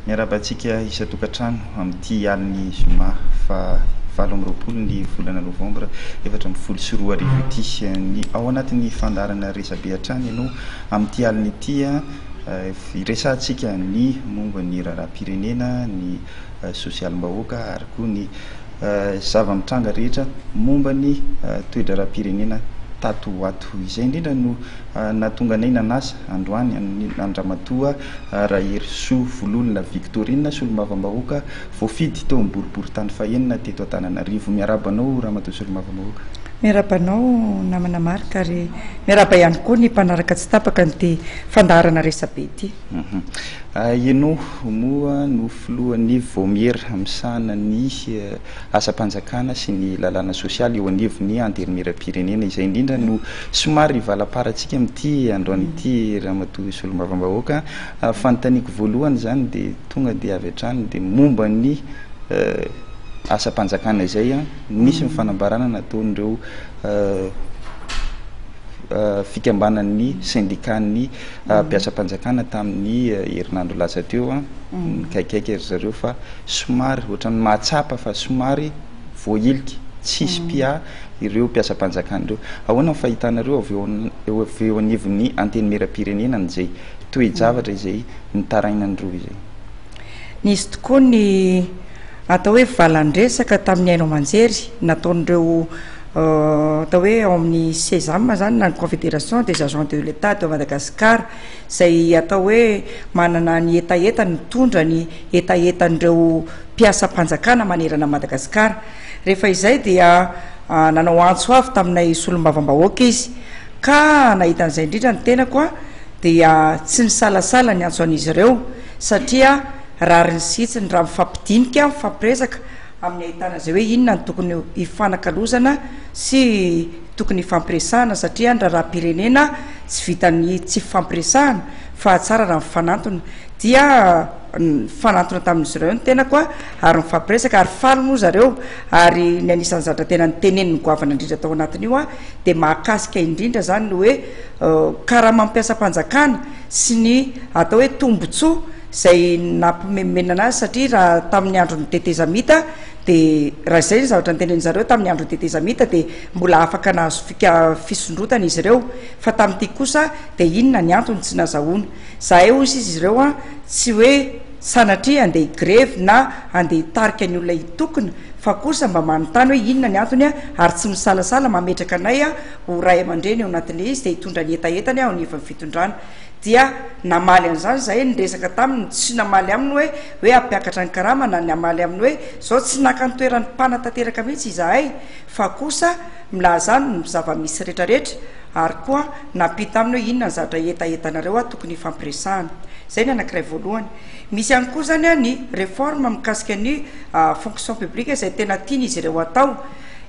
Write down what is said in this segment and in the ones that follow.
Miarahaba antsika isan-tokantrano amin'ity alin'ny zoma faha valo amby roapolo ny volana novambra efatra ambin'ny folo sy roa arivo ity. Ny ao anatin'ny fandaharana resabe hatrany ianao amin'ity alina ity, hiresahantsika ny momba ny raharaham-pirenena, ny sosialim-bahoaka ary koa ny zava-mitranga rehetra momba ny toe-draharaham-pirenena tato ho ato. Izay indrindra no nahatonga anay nanasa androany an-dRamatoa Raherisoa Vololona Victorine, Solombavambahoaka voafidy teo amin'ny boriborintany fahenina teto Antananarivo. Miarahaba anao Ramatoa Solombavambahoaka. Miarahaba anao namana Marc ary miarahaba ihany koa ny mpanaraka tsy tapaka an'ity fandaharana resabe ity. Ianao moa no filohan'ny Vaomiera misahana ny asam-panjakana sy ny lalàna sosialy eo anivon'ny Antenimierampirenena. Izay indrindra no somary ivalaparantsika amin'ity androany ity Ramatoa Solombavambahoaka. Fanontaniako voalohany izany dia tonga dia avy hatrany dia momba ny asam-panjakana izay. Nisy ny fanambarana nataon'ireo. fikambanan'ny sendikan'ny mpiasam-panjakana tamin'ny herinandro lasa teo. Nikaikaika ry zareo fa somary ohatran'ny mahatsapa fa somary voahilika, tsy hisy mpiahy ireo mpiasam-panjakana ireo. Ahoana ny fahitanareo avy eo avy eo anivon'ny Antenimierampirenena an'izay toe-javatra izay nitarainan'ny roa izay? Nisy tokoa ny atao hoe valan-dresaka tamin'ny haino aman-jery nataon'ireo atao hoe ao amin'ny Cesam izany na ny Confédération des agents de l'Etat de Madagascar izay atao hoe manana ny hetahetany, mitondra ny hetahetan'ireo mpiasam-panjakana manerana an'i Madagasikara. Rehefa izay dia nanao antso avy taminay solombavambahoaka izy ka nahita an'izay indrindra ny tenako aho dia tsy nisalasala niantso an'izy ireo satria rariny sy hitsiny raha mifampidinika, mifampiresaka, amin'ny ahitana izay hoe inona no tokony hifanakalozana sy tokony hifampiresahana satria ny raharaham-pirenena tsy vitan'ny tsy fifampiresahana fa tsara raha mifanantona dia nifanantona tamin'izy ireo ny tenako a ary nifampiresaka ary faly moa zareo ary ny anisan'ny zatra tena niteneniny goavana indrindra tao anatin'io a dia mahakasika indrindra zany ny hoe karamam-piasam-panjakana sy ny atao hoe tombontsoa izay nampimenomenana azy satria raha tamin'ny andron'ny tetezamita dia raha izay ny zavatra noteneniny zareo tamin'ny andron'ny tetezamita dia mbola afaka nahazo fika fisondrotana izy ireo fa tamin'ity kosa dia inona ny antony tsy nazahoana zahay hoy izy ireo an tsy hoe sanatria andeha higrevy na andeha hitarika ny olona hitokona fa kosa mba manontany hoe inona ny antony an ary tsy misalasala mametraka anay an ho ray aman-dreny eo anatin'ilay izy dia hitondra ny hetahetany an eo anivon'ny fitondrana dia namaly an'izany izahay, niresaka taminy sy namaly aminy hoe hoe hampiakatra ny karama na ny hamaly aminy hoe izao, tsy naka ny toeran'ny mpanatanteraka mihitsy izahay fa kosa milaza aminy ny zava-misy rehetrarehetra ary koa nampita aminy hoe inona ny zavatra hetahetanareo aho tokony hifampiresahana. Izay ny anankiray voalohany. Misy ihany koa izany ny réforme mikasika ny fonction publique izay tena tian'izy ireo hatao.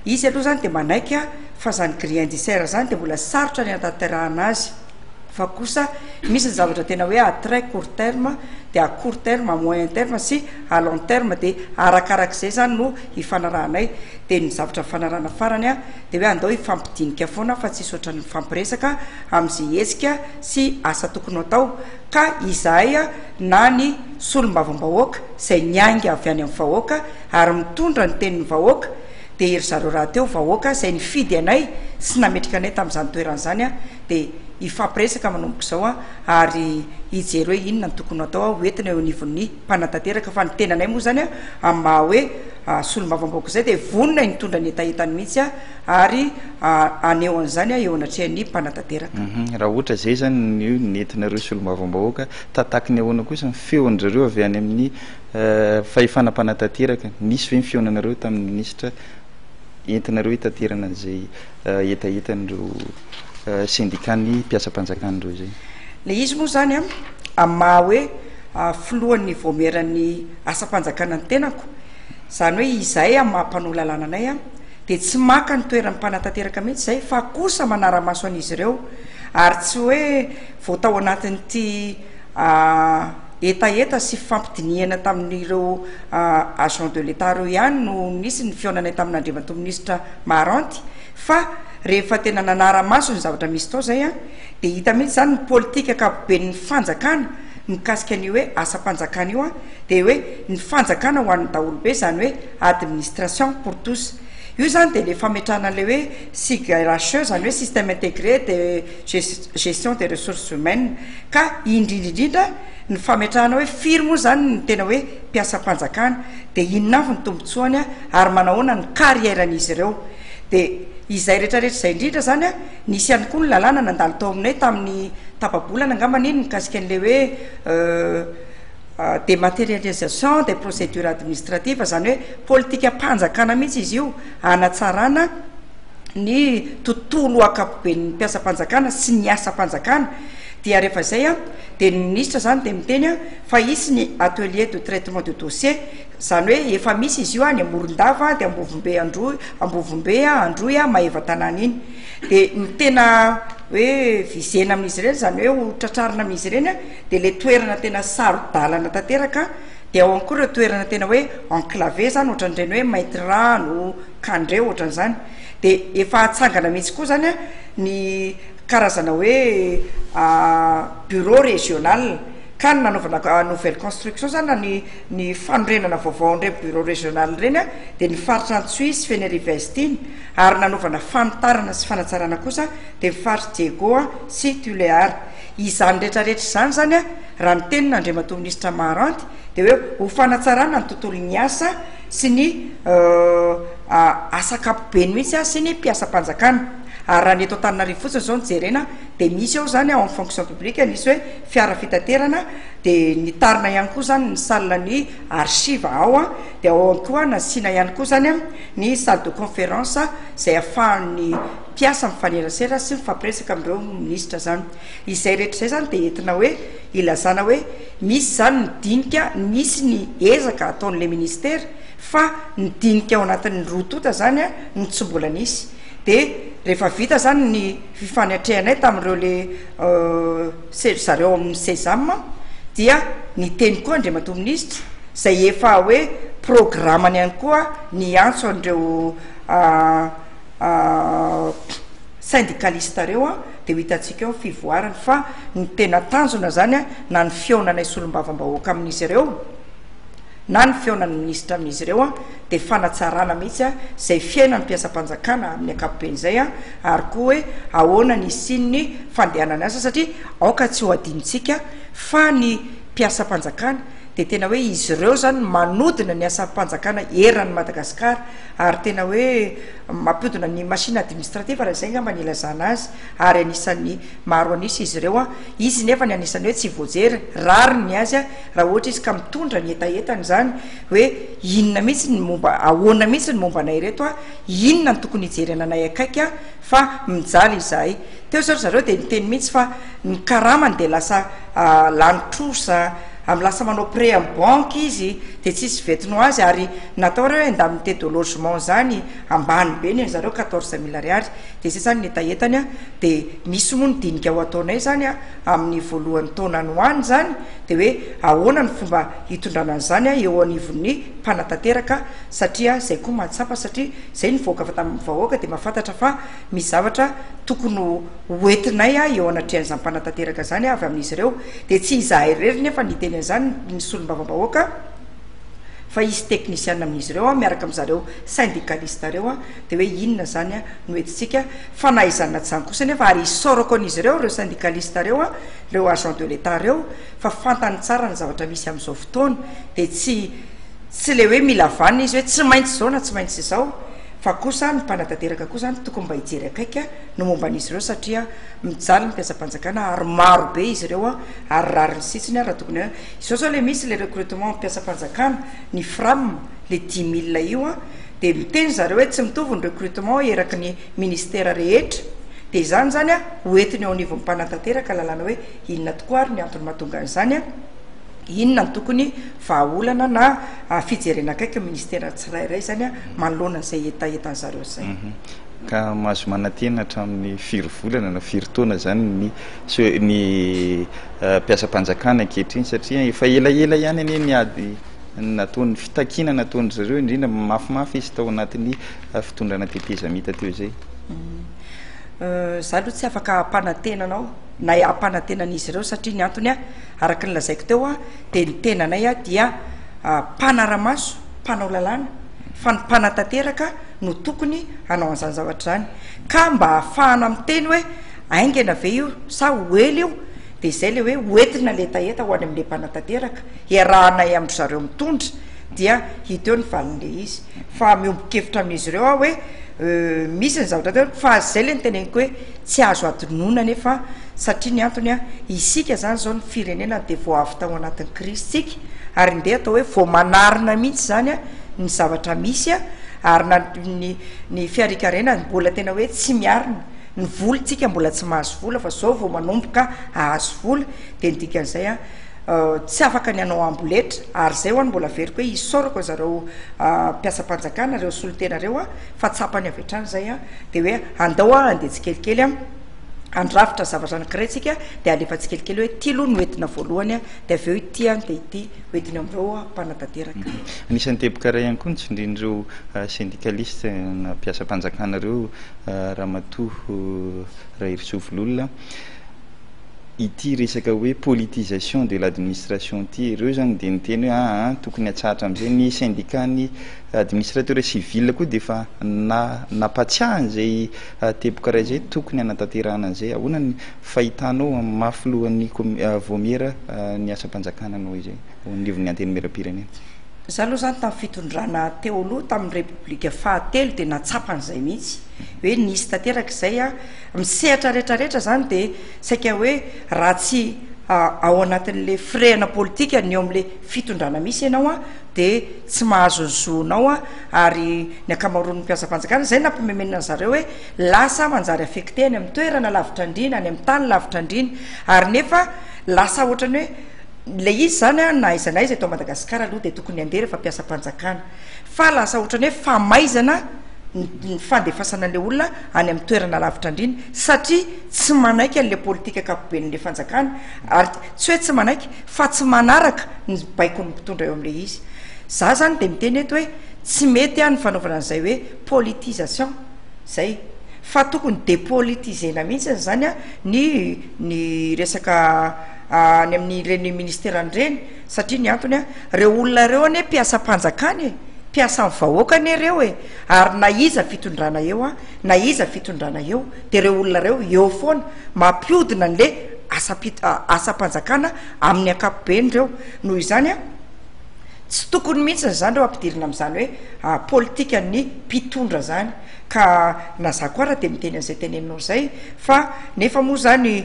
Izy aloha izany dia manaiky fa izany grille indiciaire izany dia mbola sarotra ny hanatanterahana azy. fa kosa misy ny zavatra tena hoe à très court terme dia à court terme, à moyen terme sy à long terme dia arakarak'izay zany no hifanarahanay dia ny zavatra nifanarahana farany a dia hoe andao hifampidinika foana fa tsisy ohatran'ny mifampiresaka amin'izay hetsika sy asa tokony ho atao ka izahay a na ny solombavambahoaka izay niainga avy any amin'ny vahoaka ary mitondra ny tenin'ny vahoaka dia ry zareo rahateo vahoaka izay nifidy anay sy nametraka anay tamin'izany toerana izany an, dia hifampiresaka manomboka izao an, ary hijery hoe inona no tokony ho atao an, ho entina eo anivon'ny mpanatanteraka, fa ny tenanay moa izany an, amin'ny maha hoe solombavambahoaka izay dia vonona hitondra ny hetahetany mihitsy an, ary haneho an'izany an eo anatrehan'ny mpanatanteraka. Raha ohatra izay izany no nentinareo solombavambahoaka, tataky ny ahoana kosa ny feon-dry zareo avy any amin'ny. fahefana mpanatanteraka, nisy ve ny fihaonanareo tamin'ny minisitra entinareo hitaterana an'izay hetahetan'ireo sendikàn'ny mpiasam-panjakana ireo izay? Ilay izy moa izany an, amin'ny maha hoe filohan'ny vaomieran'ny asam-panjakana ny tenako, izany hoe izahay amin'ny maha mpanao lalàna anay an, dia tsy maka ny toeran'ny mpanatanteraka mihitsy izahay fa kosa manara-maso an'izy ireo ary tsy hoe vao tao anatin'ity Hetaheta sy fifampidinihana tamin'ireo agents de l'Etat ireo ihany no nisy ny fihaonanay tamin'Andriamatoa Minisitra Maharanty fa rehefa tena nanara-maso ny zavatra misy tao izay dia hita mihitsy izany ny politika ankapoben'ny fanjakana mikasika an'io hoe asam-panjakana io dia hoe ny fanjakana ho an'ny daholobe izany hoe administration pour tous io izany dia ilay fametrahana an'ilay hoe SIGRHE izany hoe système intégré de gestion des ressources humaines ka indrindra indrindra ny fametrahana hoe firy moa izany ny tena hoe mpiasam-panjakana dia inona avy ny tombontsoany ary manahoana ny carrière-n'izy ireo dia izay rehetrarehetra izay indrindra izany nisy ihany koa ny lalàna nandalo tao aminay tamin'ny tapa-bolana angamba anie ny mikasika an'ilay hoe euh, Euh, dématérialisation des procédures administratives izany hoe politikam-panjakana mihitsy izy io hanatsarana ny tontolo ankapoben'ny mpiasam-panjakana sy ny asam-panjakana dia rehefa izay an dia ny minisitra izany dia miteny an fa hisy ny atelier de traitement de dossier izany hoe efa misy izy io any Morondava dia Ambovombe Androy Ambovombe an Androy an Maevatanàna iny dia ny tena hoe visena amin'izy ireny izany hoe ho tratrarina amin'izy ireny an dia ilay toerana tena saro-dalana tanteraka dia ao ihany koa ireo toerana tena hoe enclavé izany ohatran'ireny hoe Maitirano ka ndray ohatran'izany de efa atsangana mihitsy koa zany a ny karazana hoe bureau régional ka ny nanaovana a nouvelle construction zany na ny ny fanorenana vaovao ndray bureau régional reny a de ny faritra Antsohihy sy Fenerive Est iny ary nanaovana fanitarana sy fanatsarana kosa de ny faritra Diego a sy Tulear izany retraretra izany zany a raha ny tenin' Andriamatoa Minisitra Maharanty de hoe ho fanatsarana ny tontolon'ny asa sy ny asa ankapobeny mihitsy sy ny mpiasam-panjakana ary raha ny eto Antananarivo fotsiny izao no jerena dia misy ao izany ao amin'ny fonction publique nisy hoe fiara fitaterana dia nitarina ihany koa izany ny salle ny archive ao an dia ao ihany koa nasiana ihany koa izany an ny salle de conférence izay afahan'ny mpiasa mifanerasera sy mifampiresaka amin'ireo minisitra izany izay rehetra izay izany dia entina hoe Ilazana hoe misy izany ny dinika nisy ny ezaka ataon'ilay ministera fa ny dinika ao anatin'ny roa tonta izany no tsy mbola nisy. Dia rehefa vita izany ny fifanatrehanay tamin'ireo le ry zareo ao amin'ny Sesam dia niteny koa Andriamatoa Minisitra izay efa hoe programany ihany koa ny hiantso an'ireo Syndikalista reo an de ho hitantsika eo ny fivoarany fa ny tena tanjona zany na ny fihaonanay solombavambahoaka amin'izy ireo na ny fihaonan'ny minisitra amin'izy ireo an de fanatsarana mihitsy an zay fiainan'ny mpiasam-panjakana amin'ny ankapobeny zay an ary koa hoe ahoana ny hisian'ny fandehanan'ny asa satria aoka tsy ho adinontsika fa ny mpiasam-panjakana de tena hoe izy ireo zany manodina ny asam-panjakana eran'ny Madagasikara ary tena hoe Mampiodina ny machine administrative raha izay angamba ny ilazana azy ary anisan'ny maro an'isa izy ireo. Izy nefa ny anisan'ny hoe tsy voajery, rariny ny azy raha ohatra izy ka mitondra ny hetahetany izany hoe inona mihitsy ny momba, ahoana mihitsy ny momba anay ireto, inona no tokony hijerena anay akaiky fa mijaly izahay. Teo izao ry zareo dia niteny mihitsy fa ny karamany dia lasa lany trosa, amin'ny lasa manao prêt amin'ny banky izy dia tsy hisy venton ho azy ary natao ary hoe indemnité de logement izany, ambany be ny an'i zareo quatorze mille ariary dia izay izany ny hetahetany an, dia misy moa ny dinika ho ataonay izany an amin'ny voalohan'ny taona any ho any izany dia hoe ahoana ny fomba hitondrana an'izany an eo anivon'ny mpanatanteraka satria izay koa mahatsapa satria izay nivoaka avy tamin'ny vahoaka dia mahafantatra fa Misy zavatra tokony ho hoentinay eo anatrehan'izany mpanatanteraka izany avy amin'izy ireo, dia tsy izahay irery nefa no hiteny an'izany ny solombavambahoaka fa hisy teknisiana amin'izy ireo miaraka amin'izy zareo syndikalista ireo, dia hoe inona izany no entintsika, fanaizana izany kosa nefa ary isaorako an'izy ireo ireo syndikalista ireo, ireo agents de l'Etat ireo fa fantany tsara ny zavatra misy amin'izao fotoana, dia tsy tsy ilay hoe mila vanona izy hoe tsy maintsy izao na tsy maintsy izao Fa kosa ny mpanatanteraka koa izany tokony mba hijery akaiky ny momba an'izy ireo satria mijaly ny mpiasam-panjakana ary maro be izy ireo ary rariny sitsiny raha tokony hoe izao izao ilay misy ilay recrutement mpiasam-panjakana ny fram ilay dimy milina io an dia miteny ry zareo hoe tsy mitovy ny recrutement eraky ny ministera rehetra dia izany izany an ho entiny eo anivon'ny mpanatanteraka lalàna hoe inona tokoa ary ny antony mahatonga an'izany an Inona no tokony vahaolana na fijerena akaiky ny ministera tsirairay izany manoloana an'izay hetahetan'ny zareo izay. Ka mahazo manantena hatramin'ny firy volana na firy taona izany ny ny mpiasam-panjakana ankehitriny satria efa elaela ihany anie ny ady nataon'ny fitakiana nataon-dry zareo indrindra mafimafy izy tao anatin'ny fitondrana tetezamita teo izay. Izaho aloha tsy afaka hampanantena anao na hampanantena an'izy ireo satria ny antony Araka ny lazaiko teo a, dia ny tenanay a dia mpanara-maso, mpanao lalàna, fa ny mpanatanteraka no tokony hanao an'izany zavatra izany. Ka mba ahafahana miteny hoe haingana ve io sa ho ela io, dia izay ilay hoe hoentina letaheta ho any amin'ilay mpanatanteraka, iarahanay amin-dry zareo mitondra, dia hita eo ny valin'ilay izy. Fa miombon-kevitra amin'izy ireo aho hoe misy ny zavatra ataony fa izay ilay niteneniko hoe tsy azo hadinoina anefa satria ny antony isika izany izao ny firenena dia vao avy tao anatin'ny krizy tsika ary ndeha atao hoe vao manarina mihitsy izany ny zavatra misy ary na ny ny fiarikarenany mbola tena hoe tsy miarina ny vola tsika mbola tsy mahazo vola fa izao vao manomboka ahazo vola dia ny dikan'izay Tsy afaka ny hanao amboletra ary izay ho'a no mbola averiko hoe isaorako an'zareo mpiasam-panjakana ireo solontena ireo a, fa tsapany avy hatrany izay a, dia hoe andao a andeha tsikelikely a handrafitra zavatra anankiray tsika dia alefa tsikelikely hoe ity aloha no entina voalohany a, dia avy eo ity a dia ity ho entina amin'ireo mpanatanteraka. Anisan'ny teboka iray ihany koa ny tsindrian'ireo syndicaliste na mpiasam-panjakana ireo Ramatoa Raherisoa Vololona, ity resaka hoe politisation de l'administration ity, ireo izany dia niteny hoe aa tokony hatsahatra amin'izay, ny syndicat ny administrateurs civils koa dia efa na nampatsiahy an'izay teboka iray izay tokony hanatanterahana an'izay, ahoana ny fahitanao amin'ny maha filohan'ny vaomiera ny asam-panjakana anao izay eo anivon'ny antenimieram-pirenena? Izaho aloha izany tamin'ny fitondrana teo aloha tamin'ny repoblika fahatelo dia nahatsapa an'izay mihitsy hoe nisy tanteraka izay a, Amin'ny sehatra rehetra rehetra izany dia saika hoe raha tsy ao anatin'ilay firehana politika ny eo amin'ilay fitondrana misy ianao dia tsy mahazo ny zonao ary ny ankamaroan'ny mpiasam-panjakana izay nampimemenana ny zareo hoe lasa manjary affecté any amin'ny toerana lavitra andriana, any amin'ny tany lavitra andriana ary nefa lasa ohatran'ny hoe ilay izy izany na aiza na aiza eto Madagasikara aloha dia tokony handeha rehefa mpiasam-panjakana fa lasa ohatran'ny hoe famaizana ny fandefasana an'ilay olona any amin'ny toerana lavitra andriana satria tsy manaiky an'ilay politika ankapoben'ilay fanjakana ary tsy hoe tsy manaiky fa tsy manaraka ny baikon'ny mpitondra eo amin'ilay izy. Za zany dia miteny eto hoe tsy mety aho ny fanaovana an'izay hoe politisation zay fa tokony depolitisena mihitsy zany a ny ny resaka any amin'ireny ministeran'ireny. Satria ny antony an, reo olona reo anie mpiasam-panjakana e, mpiasan'ny vahoaka anie reo e, ary na iza fitondrana eo an, na iza fitondrana eo dia reo olona reo eo foana, mampiodina anle asam-panjakana amin'ny ankapobeny reo, noho izany an, tsy tokony mihintsiny zany reo ampidirina amin'izany hoe politikan'ny mpitondra zany, ka na za koa ara dia miteny an'izay teneninao izay, fa nefa moa zany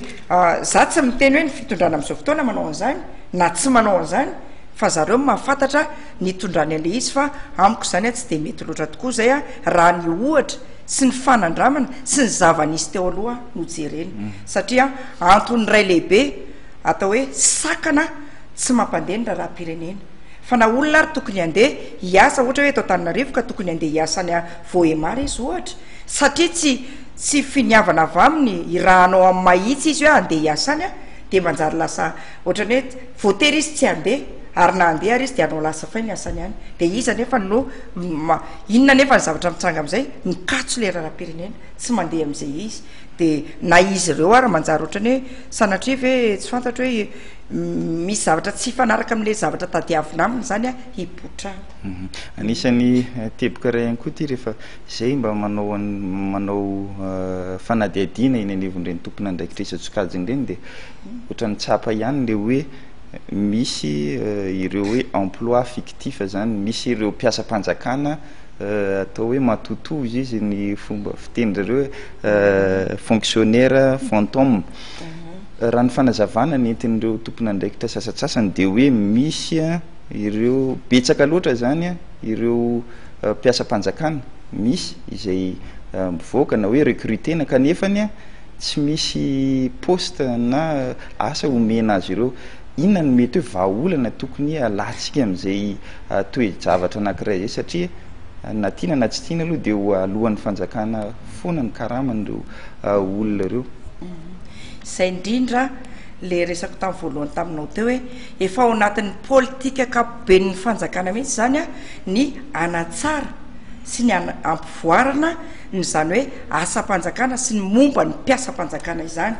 za tsy miteny hoe ny fitondrana amin'izao fotoana manao an'izany, na tsy manao an'izany fa zareo no mahafantatra ny itondrany an'ilay izy fa amiko izany a tsy dia mety loatra tokoa izay a raha ny ohatra sy ny fanandramana sy ny zava-nisy teo aloha no jerena satria antony iray lehibe atao hoe sakana tsy mampandeha ny raharaham-pirenena fa na olona ary tokony handeha hiasa ohatra hoe eto Antananarivo ka tokony handeha hiasa any Vohémar izy ohatra satria tsy tsy finiavana avy aminy i raha hanao amin'ny mahitsy izy hoe handeha hiasa any a dia manjary lasa ohatran'ny hoe voatery izy tsy handeha ary na handeha ary izy dia hanao lasa fay ny asany ihany dia iza nefa no inona nefa ny zavatra mitsanga amin'izay mikatso le raharaham-pirenena tsy mandeha amin'izay izy dia na izy ireo ary manjary ohatran'ny hoe sanatria ve tsy fantatro hoe misy zavatra tsy fanaraka amin'le zavatra tadiavina aminy izany a hipotrana mhm. anisan'ny eh, teboka iray ihany koa ty rehefa izay mba manao an'i manao fanadihadiana eny anivon'ireny tompon'andraikitr'isa tsokajiny ireny dia ohatran'ny tsapa ihany ilay hoe misy ireo hoe emploi fictif izany, misy ireo mpiasam-panjakana atao hoe matotoa hozy izy ny fomba fiteny zareo hoe fonctionnaire fantôme. Raha ny fanazavana nentin'ireo tompon'andraikitra sasatsasany dia hoe misy ireo betsaka loatra izany. ireo mpiasam-panjakana misy izay mivoaka na hoe recrutena kanefa ny tsy misy poste na asa omena azy ireo. Inona no mety hoe vahaolana tokony alantsika amin'izay toe-javatra anankiray izay satria na tiana na tsy tiana aloha dia eo alohan'ny fanjakana foana ny karaman'ireo olona ireo. Izay indrindra ilay resako tamin'ny voalohany taminao teo hoe. Efa ao anatin'ny politika ankapoben'ny fanjakana mihitsy izany ny hanatsara sy ny hampivoarana ny izany hoe asam-panjakana sy ny momba ny mpiasam-panjakana izany.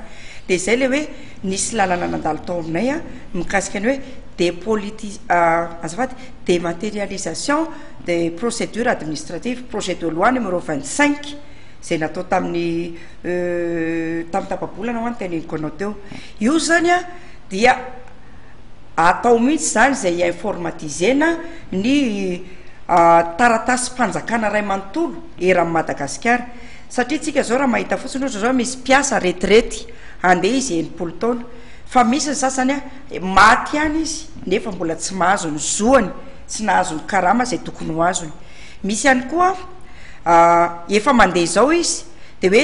Dia izay ilay hoe nisy lalana nandalo tao aminay mikasika ny hoe depoliti- azafady, dematerialisation des procédures administratives, projet de loi numéro vingt cinq, izay natao tamin'ny tamin'ny tapa-bolana ho'a ny teneniko anao teo. Io izany an! dia atao mihitsy izany izay hi-informatiser-na ny taratasim-panjakana iray manontolo eran'i Madagasikara, satria isika izao raha mahita fotsiny ohatra izao misy mpiasa retirety handeha izy enimpolo taona, fa misy ny sasany an maty ihany izy nefa mbola tsy mahazo ny zoany, tsy nahazo ny karama izay tokony ho azony, misy ihany koa an efa mandeha izao izy, dia hoe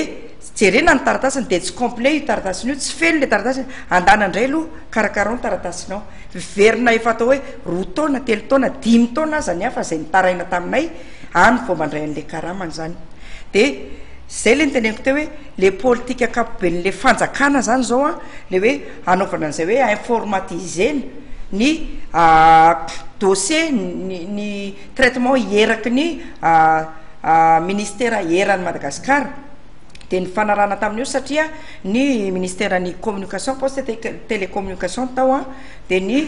jerena ny taratasiny dia tsy complet io taratasiny io tsy feno ilay taratasiny andana indray aloha karakarao ny taratasinao miverina efa atao hoe roa taona telo taona dimy taona aza ny hafa izay nitaraina taminay any vao mba indray an'ilay karamany izany dia izay ilay niteneniko teo hoe ilay politika ankapoben'ilay fanjakana izany izao a ilay hoe hanaovana an'izay hoe informatisena ny dossier ny ny traitement eraky ny Ministera eran'i Madagasikara dia nifanarahana tamin'io satria ny Ministeran'ny Communication, Poste et Tec- Télécommunication tao an, dia ny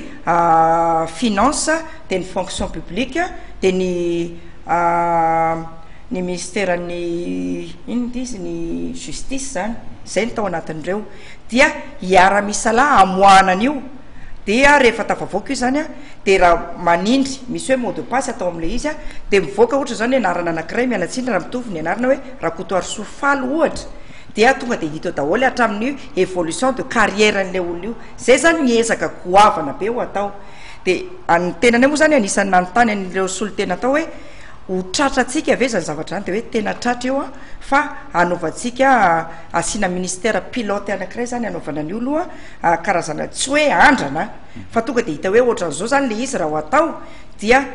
Finances, dia ny Fonction Publique, dia ny ny Ministeran'ny inona ity izy? ny Justice izany, izay no tao anatin'ireo. Dia hiara-misalahy hamoahana an'io. dia rehefa tafavoaka io zany a de raha manindry misy hoe mot de passe atao am'le izy a de mivoaka ohatra zao ny anarana anakiray miala tsiny raha mitovy ny anarana hoe Rakotoarisoa Faly ohatra dia tonga de hita eo daholo hatramin'ny evolution de carrière an'le olona io zay zany ny ezaka goavana be ho atao de an'ny tenanay moa zany anisan'ny nanontany an'ireo solontena tao hoe ho tratra antsika ve zany zavatra zany de hoe tena tratra io a fa hanaovantsika asiana ministère pilote anakiray zany hanaovana an'io loha karazana tsy hoe andrana fa tonga dia hita hoe ohatran'izao izany ilay izy raha ho atao dia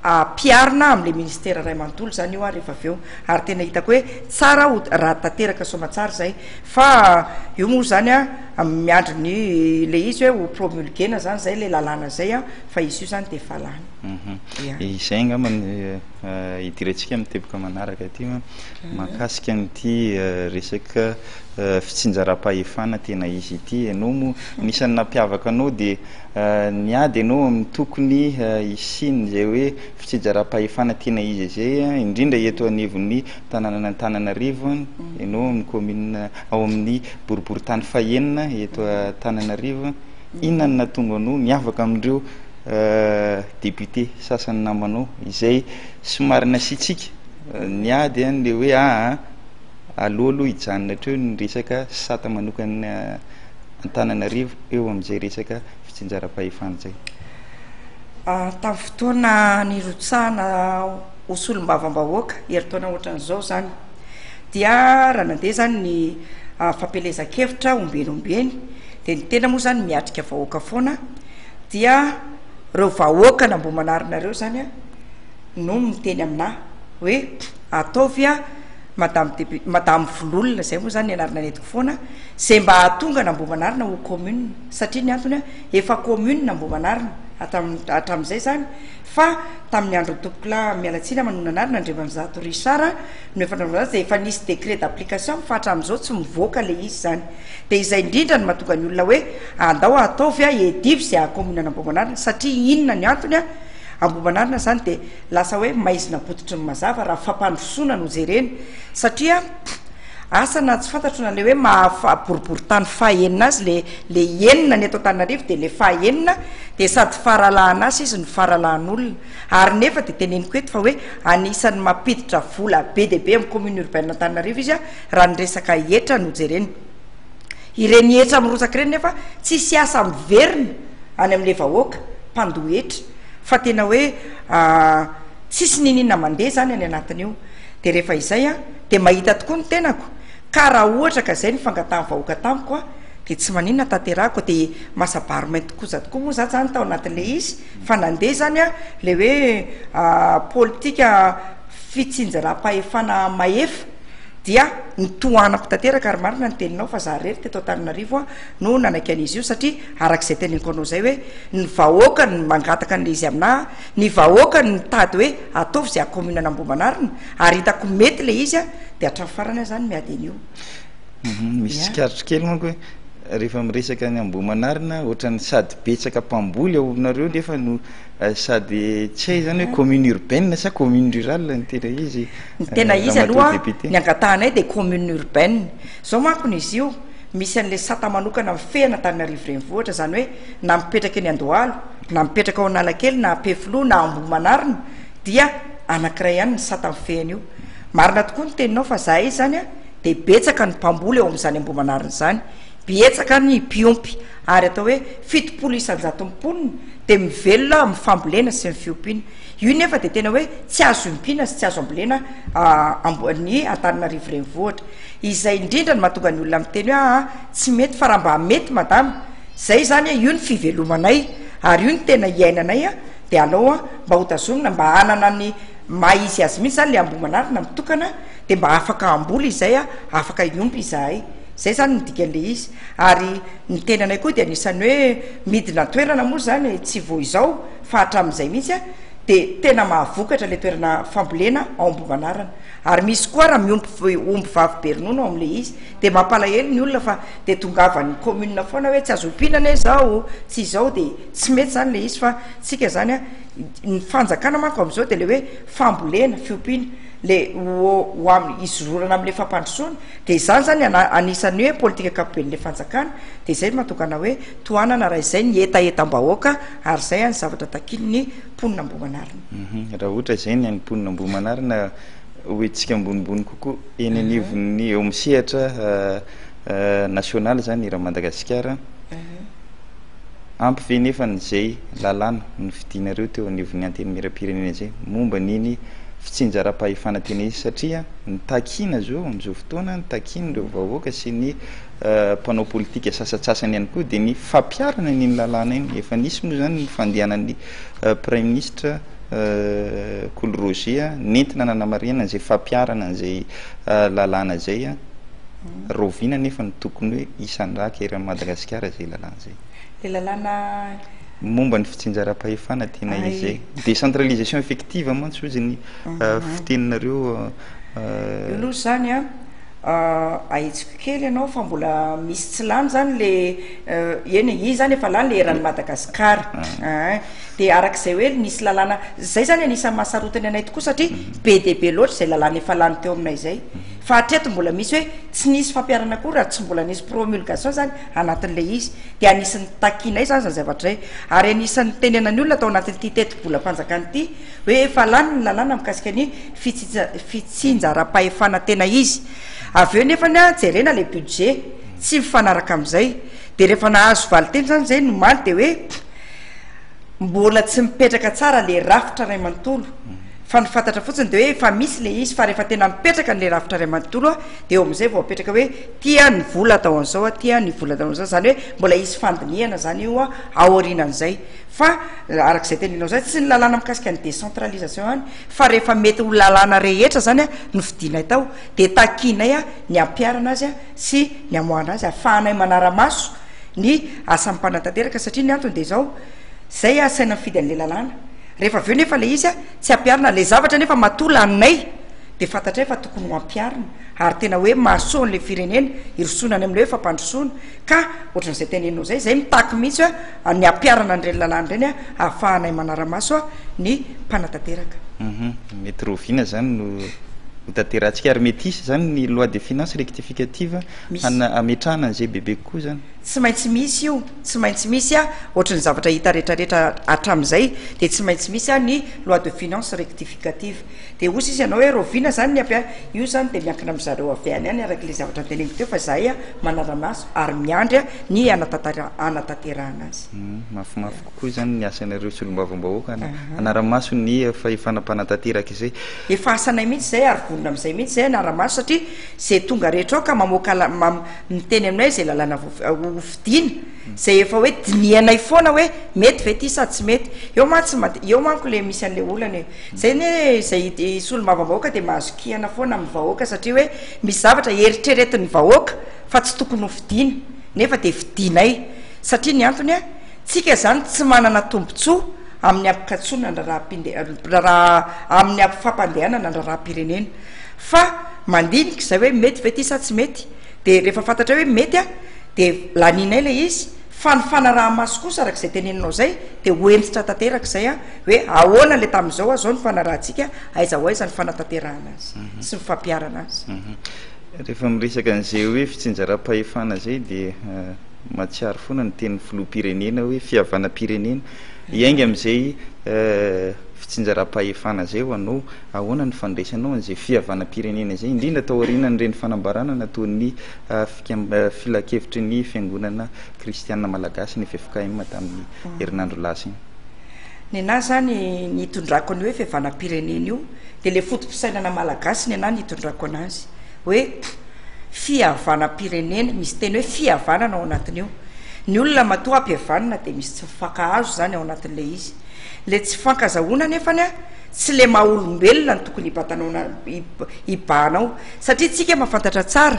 ampiharina amin'ilay ministera iray manontolo izany io ary rehefa avy eo ary tena hitako hoe tsara ho raha tanteraka soamantsara izay fa eo moa izany a miandry ny ilay izy hoe ho promulguena izany izay ilay lalàna izay a fa izy io izany dia efa lany Mhm. Ia. Izay angamba ny eh, eh, idirantsika amin'ny teboka manaraka ity an, mahakasika an'ity eh, resaka fitsinjaram-pahefana tena izy ity enao moa anisan'ny nampiavaka anao dia niady enao amin'ny tokony hisian' izay hoe fitsijaram-pahefana tena izy izay indrindra eto anivon'ny tananan'Antananarivo enao amin'ny commune ao amin'ny boriboritany fahenina eto Antananarivo inona no nahatonga anao niavaka amin'ireo député sasany namanao izay somary nasiantsika niady an le hoe aa aleo aloha hijanona hatreo ny resaka sata manokana Antananarivo eo amin'izay resaka fitsinjaram-pahefana izay. Tamin'ny fotoana nirotsahana ho solombavambahoaka herintaona ohatran'izao izany dia raha nandeha izany ny fampielezan-kevitra ombieny ombieny dia ny tena moa izany miatrika vahoaka foana dia ireo vahoaka an'Ambohimanarina ireo izany no miteny aminà hoe ataovy Madame Député, Madame Vololona, izay moa izany ny anarana nentiko foana, izay mba hahatonga an'Ambohimanarina ho commune. Satria ny antony an, efa commune Ambohimanarina hatramin'ny, hatramin'izay izany, fa tamin'ny andron'ny tompokolahy, miala tsiny aho manohana anarana, Andriamanizato Richard, no efa nanaovana azy, dia efa nisy décret d'application, fa hatramin'izao tsy mivoaka ilay izy izany. Dia izay indrindra no mahatonga ny olona hoe, andao ataovy an, hedivo izay haha-commune an'Ambohimanarina, satria inona ny antony an, Ambohimanarina izany dia, Lasa hoe maizina bototry ny mazava raha fampandrosoana no jerena satria asa na tsy fantatro na le hoe maha boriboritany faha enina azy le le enina ny eto Antananarivo dia le faha enina dia sady faralahan'asa izy no faralahan'olona ary nefa dia teneniko eto fa hoe anisan'ny mampiditra vola be dia be amin'ny commune urbaine Antananarivo izy a raha ny resaka hetra no jerena ireny hetra mirotsaka ireny nefa tsisy asa miverina any amin'ilay vahoaka mpandoa hetra fa tena hoe tsisy niniana mandeha zany any anatiny io de rehefa izay a de mahita tokoa ny tenako ka raha ohatra ka zay ny fangatahan'ny vahoaka tamiko a de tsy maninona tanterahako de masabaro mainty koza tokoa moa za zany tao anatin'le izy fa nandeha zany a le hoe politika fitsinjaram-pahefana mahefa dia nitohanako tanteraka ary marina ny teninao fa za rery teto Antananarivo a no nanaiky an'izy io satria araka izay teneniko anao izay hoe ny vahoaka no mangataka an'ilay izy aminà, ny vahoaka no mitady hoe ataovy izay haha-commune an'Ambohimanarina ary hitako mety ilay izy dia hatramin'ny farany aho izany miady an'io. Misy tsikaritra kely manko hoe rehefa miresaka ny Ambohimanarina ohatran'ny sady betsaka mpamboly ao aminareo nefa no sady tsy hay izany hoe commune urbaine sa commune rurale ny tena izy, Ny tena izy aloha ny angatahanay dia commune urbaine. Zao manko n'izy io, misy an'le sata manokana mifehy an'Antananarivo renivohitra, zany hoe na mipetraka eny Andohalo, na mipetraka ao Analakely, na Ampefiloha, na Ambohimanarina, dia anankiray ihany ny sata mifehy an'io. Marina tokoa ny teninao fa zahay zany a, dia betsaka ny mpamboly eo amin'izany Ambohimanarina izany, bietsaka ny mpiompy, ary atao hoe fitopolo isanjaton'ny mponina dia mivelona amin'ny fambolena sy ny fiompiana. Io nefa dia tena hoe tsy azo iompina sy tsy azo ambolena amboan'ny Antananarivo renivohitra. Izay indrindra no mahatonga ny olona miteny hoe aa tsy mety fa raha mba mety madama zay izany a io ny fivelomanay ary io no tena iainanay a dia alao a mba hotazomina mba hanana ny maha izy azy mihitsy izany ilay Ambohimanarina mitokana dia mba afaka hamboly izay a afaka hiompy izahay. Izay izany no dikan'ilay izy ary Ny tenanay koa dia anisan'ny hoe midina an-toerana moa izany e, tsy vao izao fa hatramin'izay mihitsy a, dia tena mahavokatra ilay toerana fambolena ao Ambohimanarana, ary misy koa ara miompy omby vavy be ronono ao amin'ilay izy, dia mampalahelo ny olona fa dia tongavan'ny commune foana hoe tsy azo ompiana anie izao, tsy izao, dia tsy mety izany ilay izy fa isika izany a, ny fanjakana manko amin'izao dia ilay hoe fambolena, fiompiana. le ho ho amin'ny hizororana amin'ilay fampandrosoana, dia izany izany an anisan'ny hoe politika ankapoben'ilay fanjakana, dia izay no mahatonga anao hoe tohanana raha izay ny hetahetam-bahoaka ary izay an ny zavatra takian'ny mponina Ambohimanarina. Hum raha ohatra izay ny an'ny mponina Ambohimanarina ho hetsika ambonimbony kokoa eny anivon'ny eo amin'ny sehatra nasionaly izany eran'i Madagasikara an, ampy ve nefa izay lalàna nofidianareo teo anivon'ny Antenimierampirenena izay momba an'iny fitsinjaram-pahefana tena izy satria ny takiana zao amin'izao fotoana, ny takian'ireo vahoaka sy ny mpanao politika sasatsasany ihany koa dia ny fampiharana an'iny lalàna iny. Efa nisy moa izany ny fandehanan'ny praiminisitra Kolo Roger nentina nanamarihana izay fampiharana an'izay lalàna izay. Raoviana anefa no tokony hoe hisandraka eran'i Madagasikara izay lalàna izay? Ilay lalàna. ny momba ny fitsinjaram-pahefana tena izay décentralisation effective mantsy hozy ny fiteninareo io aloha izany an ahitsiko kely ianao fa mbola misy tsy lany izany le eny e, iny izany efa lany le eran'i Madagasikara an, dia araka izay hoe nisy lalàna, izay izany anisan'ny maha sarotiny anay tokoa satria be dia be loatra izay lalàna efa lany teo aminay izay fa hatreto mbola misy hoe tsy nisy fampiharana akory raha tsy mbola nisy promulgation izany anatin'ilay izy, dia anisan'ny takiana izany izany zavatra izay, ary anisan'ny nitenenan'ny olona tao anatin'ity tetibolam-panjakana ity hoe efa lany ny lalàna mikasika ny fitsija- fitsinjaram-pahefana tena izy. Avy eo nefany an, jerena ilay budget, tsy mifanaraka amin'izay. Dia rehefa nahazo valinteny izany izay, nomaly dia hoe, Mbola tsy mipetraka tsara le rafitra ray manontolo fa ny fantatra fotsiny de hoe efa misy le izy fa rehefa tena mipetraka le rafitra ray manontolo a de eo amizay vao apetraka hoe ty a ny vola atao anzao a ty a ny vola atao anzao zany hoe mbola hisy fandinihana zany io a aorinanzay fa arak'izay teneninao zay tsy ny lalàna mikasika ny decentralisation any fa rehefa mety ho lalàna rehetra zany a no fidinay tao de takianay a ny ampiharana azy a sy ny hamoahana azy, ahafahanay manara-maso ny asan'ny mpanatanteraka, satria ny antony dia izao, izay asaina mifidy an'ilay lalàna, rehefa avy eo nefa ilay izy tsy ampiharina, ilay zavatra nefa matoa laninay dia fantatray fa tokony ho ampiharina, ary tena hoe mahasoa an'ilay firenena hirosoana any amin'ilay hoe fampandrosoana, ka ohatran'izay teneninao izay, izay mitaky mihitsy hoe. ny hampiharana an'ireny lalàna ireny hahafahanay manara-maso ny mpanatanteraka. Mety rahoviana izany no hotanterahantsika? Ary mety hisy izany ny loi de finances rectificative hametrahana an'izay bebe kokoa izany? Tsy maintsy misy io, tsy maintsy misy, ohatry ny zavatra hita rehetrarehetra hatramin'izay dia tsy maintsy misy ny loi de finances rectificative. Dia ozy izy anao hoe Rovina zany ny ampy io zany dia miankina amizareo avy any any arak'ilay zavatra noteneniko teo fa zahay manara-maso ary miandry ny hanatanterahana azy. Mafimafy kokoa izany ny asanareo solombavambahoaka an, hanara-maso ny fahefana mpanatanteraka izay. Efa asanay mihitsy izay ary vonona amizay mihitsy izay hanara-maso satria ze tonga rehetra ao ka mamoaka miteny aminay ze lalàna ho fidiana, izay efa hoe dinihanay foana hoe mety ve ity sa tsy mety, eo mantsy ma- eo manko le misy an'le olana e, zay anie izay i- i solombavambahoaka dia mahazo kihana foana amin'ny vahoaka satria hoe misy zavatra eritreretin'ny vahoaka fa tsy tokony ho fidiana nefa dia fidianay satria ny antony a, tsika zany tsy manana tombotsoa amin'ny ampikatsoana ny raharaham-pinde- raharaha amin'ny am- fampandehanana ny raharaham-pirenena fa mandinika izay hoe mety ve ity sa tsy mety, dia rehefa fantatray hoe mety a dia lanianay ilay izy fa ny fanaraha-maso kosa araka izay teneninao izay dia ho hentitra tanteraka izay a hoe ahoana ilay tamin'izao a zao ny fanarahantsika aiza ho aiza ny fanatanterahana azy sy ny fampiharana azy Rehefa miresaka an'izay hoe fitsinjaram-pahefana izay dia mahatsiaro foana ny tenin'ny filoham-pirenena hoe fihavanam-pirenena. Hiainga amin'izay fitsinjaram-pahefana izay ho anao. Ahoana ny fandraisanao an'izay fihavanam-pirenena izay, indrindra taorianan'ireny fanambarana nataon'ny Filan-kevitry ny Fiangonana Kristianina Malagasy, ny ffkm, tamin'ny herinandro lasa iny? Nenaha izany ny hitondrako an'io hoe fihavanam-pirenena io, dia ilay foto-pisainana malagasy nenaha no hitondrako an'azy, hoe fihavanam-pirenena, misy teny hoe fihavanana ao anatin'io. Ny olona matoa hampihavanina dia misy tsy mifankahazo izany ao anatin'ilay izy. Ilay tsy fifankazahoana anefany an! Tsy le maha olombelona no tokony hibatanao na hibahanao satria tsika mahafantatra tsara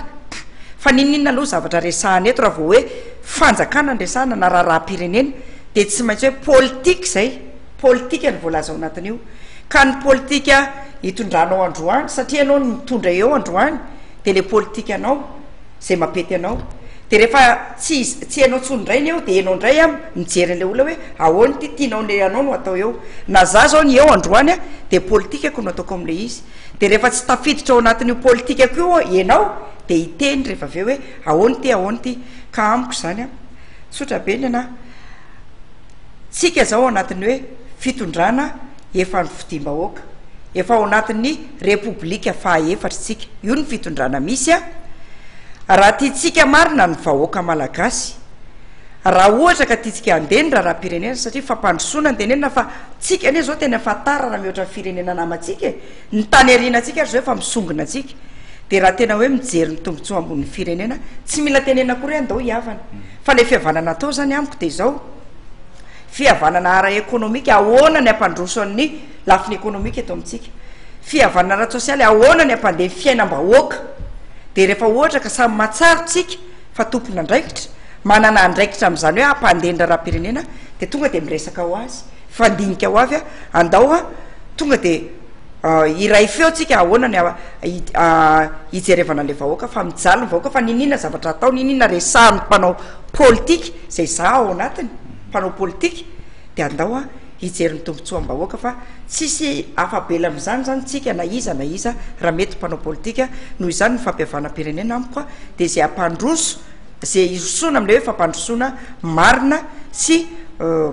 fa n'inon'inona aloha zavatra resahana eto raha vao hoe fanjakana no resahana na raharaham-pirenena dia tsy maintsy hoe politika izay, politika no voalaza ao anatin'io ka ny politika hitondranao androany satria ianao no mitondra eo androany dia le politikanao Zay mapety anao de refa tsy tsy enao tsony ndray ny eo de enao ndray an mijery anle olona hoe ahoana ity tianao le anao no atao eo na za zao ny eo androany an de politikako no ataoko amle izy de refa tsy tafiditra ao anatin'io politikako io enao de hiteny refa aveo hoe ahoana ity ahoana ity ka amiko zany an tsotra be ny anahy tsika izao ao anatin'ny hoe fitondrana efa nofidiam-bahoaka, efa ao anatin'ny repoblika faha efatra isika, io no fitondrana misy a, raha tiantsika marina ny vahoaka malagasy, raha ohatra ka tiantsika handeha ny raharaham-pirenena satria fampandrosoana no tenenina fa tsika anie izao tena efa tara raha mihoatra ny firenena namantsika e! Ny tany ariana antsika ary izao efa misongona antsika dia raha tena hoe mijery ny tombotsoa ambonin'ny firenena tsy mila tenenina akory hoe andao hihavana fa ilay fihavanana atao izany amiko dia izao fihavanana ara ekonomika ahoana ny hampandroso an'ny lafiny ekonomika eto amintsika fihavanana ara-tsosialy ahoana ny hampandeha ny fiainam-bahoaka dia rehefa ohatra ka samy mahatsaro tsika fa tompon'andraikitra manana andraikitra amin'izany hoe hampandeha ny raharaham-pirenena dia tonga dia miresaka ho azy Fa ndinika ho avy a, andao a, tonga de hiray feo tsika ahoana ny hijerevana le vahoaka fa mijaly ny vahoaka fa niniana zavatra atao niniana resahan'ny mpanao politika zay za ao anatiny mpanao politika de andao a hijery ny tombotsoam-bahoaka fa tsisy afabela am'zany zany tsika na iza na iza raha mety mpanao politika noho izany ny fampihavanam-pirenena amiko a de zay ampandroso izay hirosoana amin'ilay hoe fampandrosoana marina sy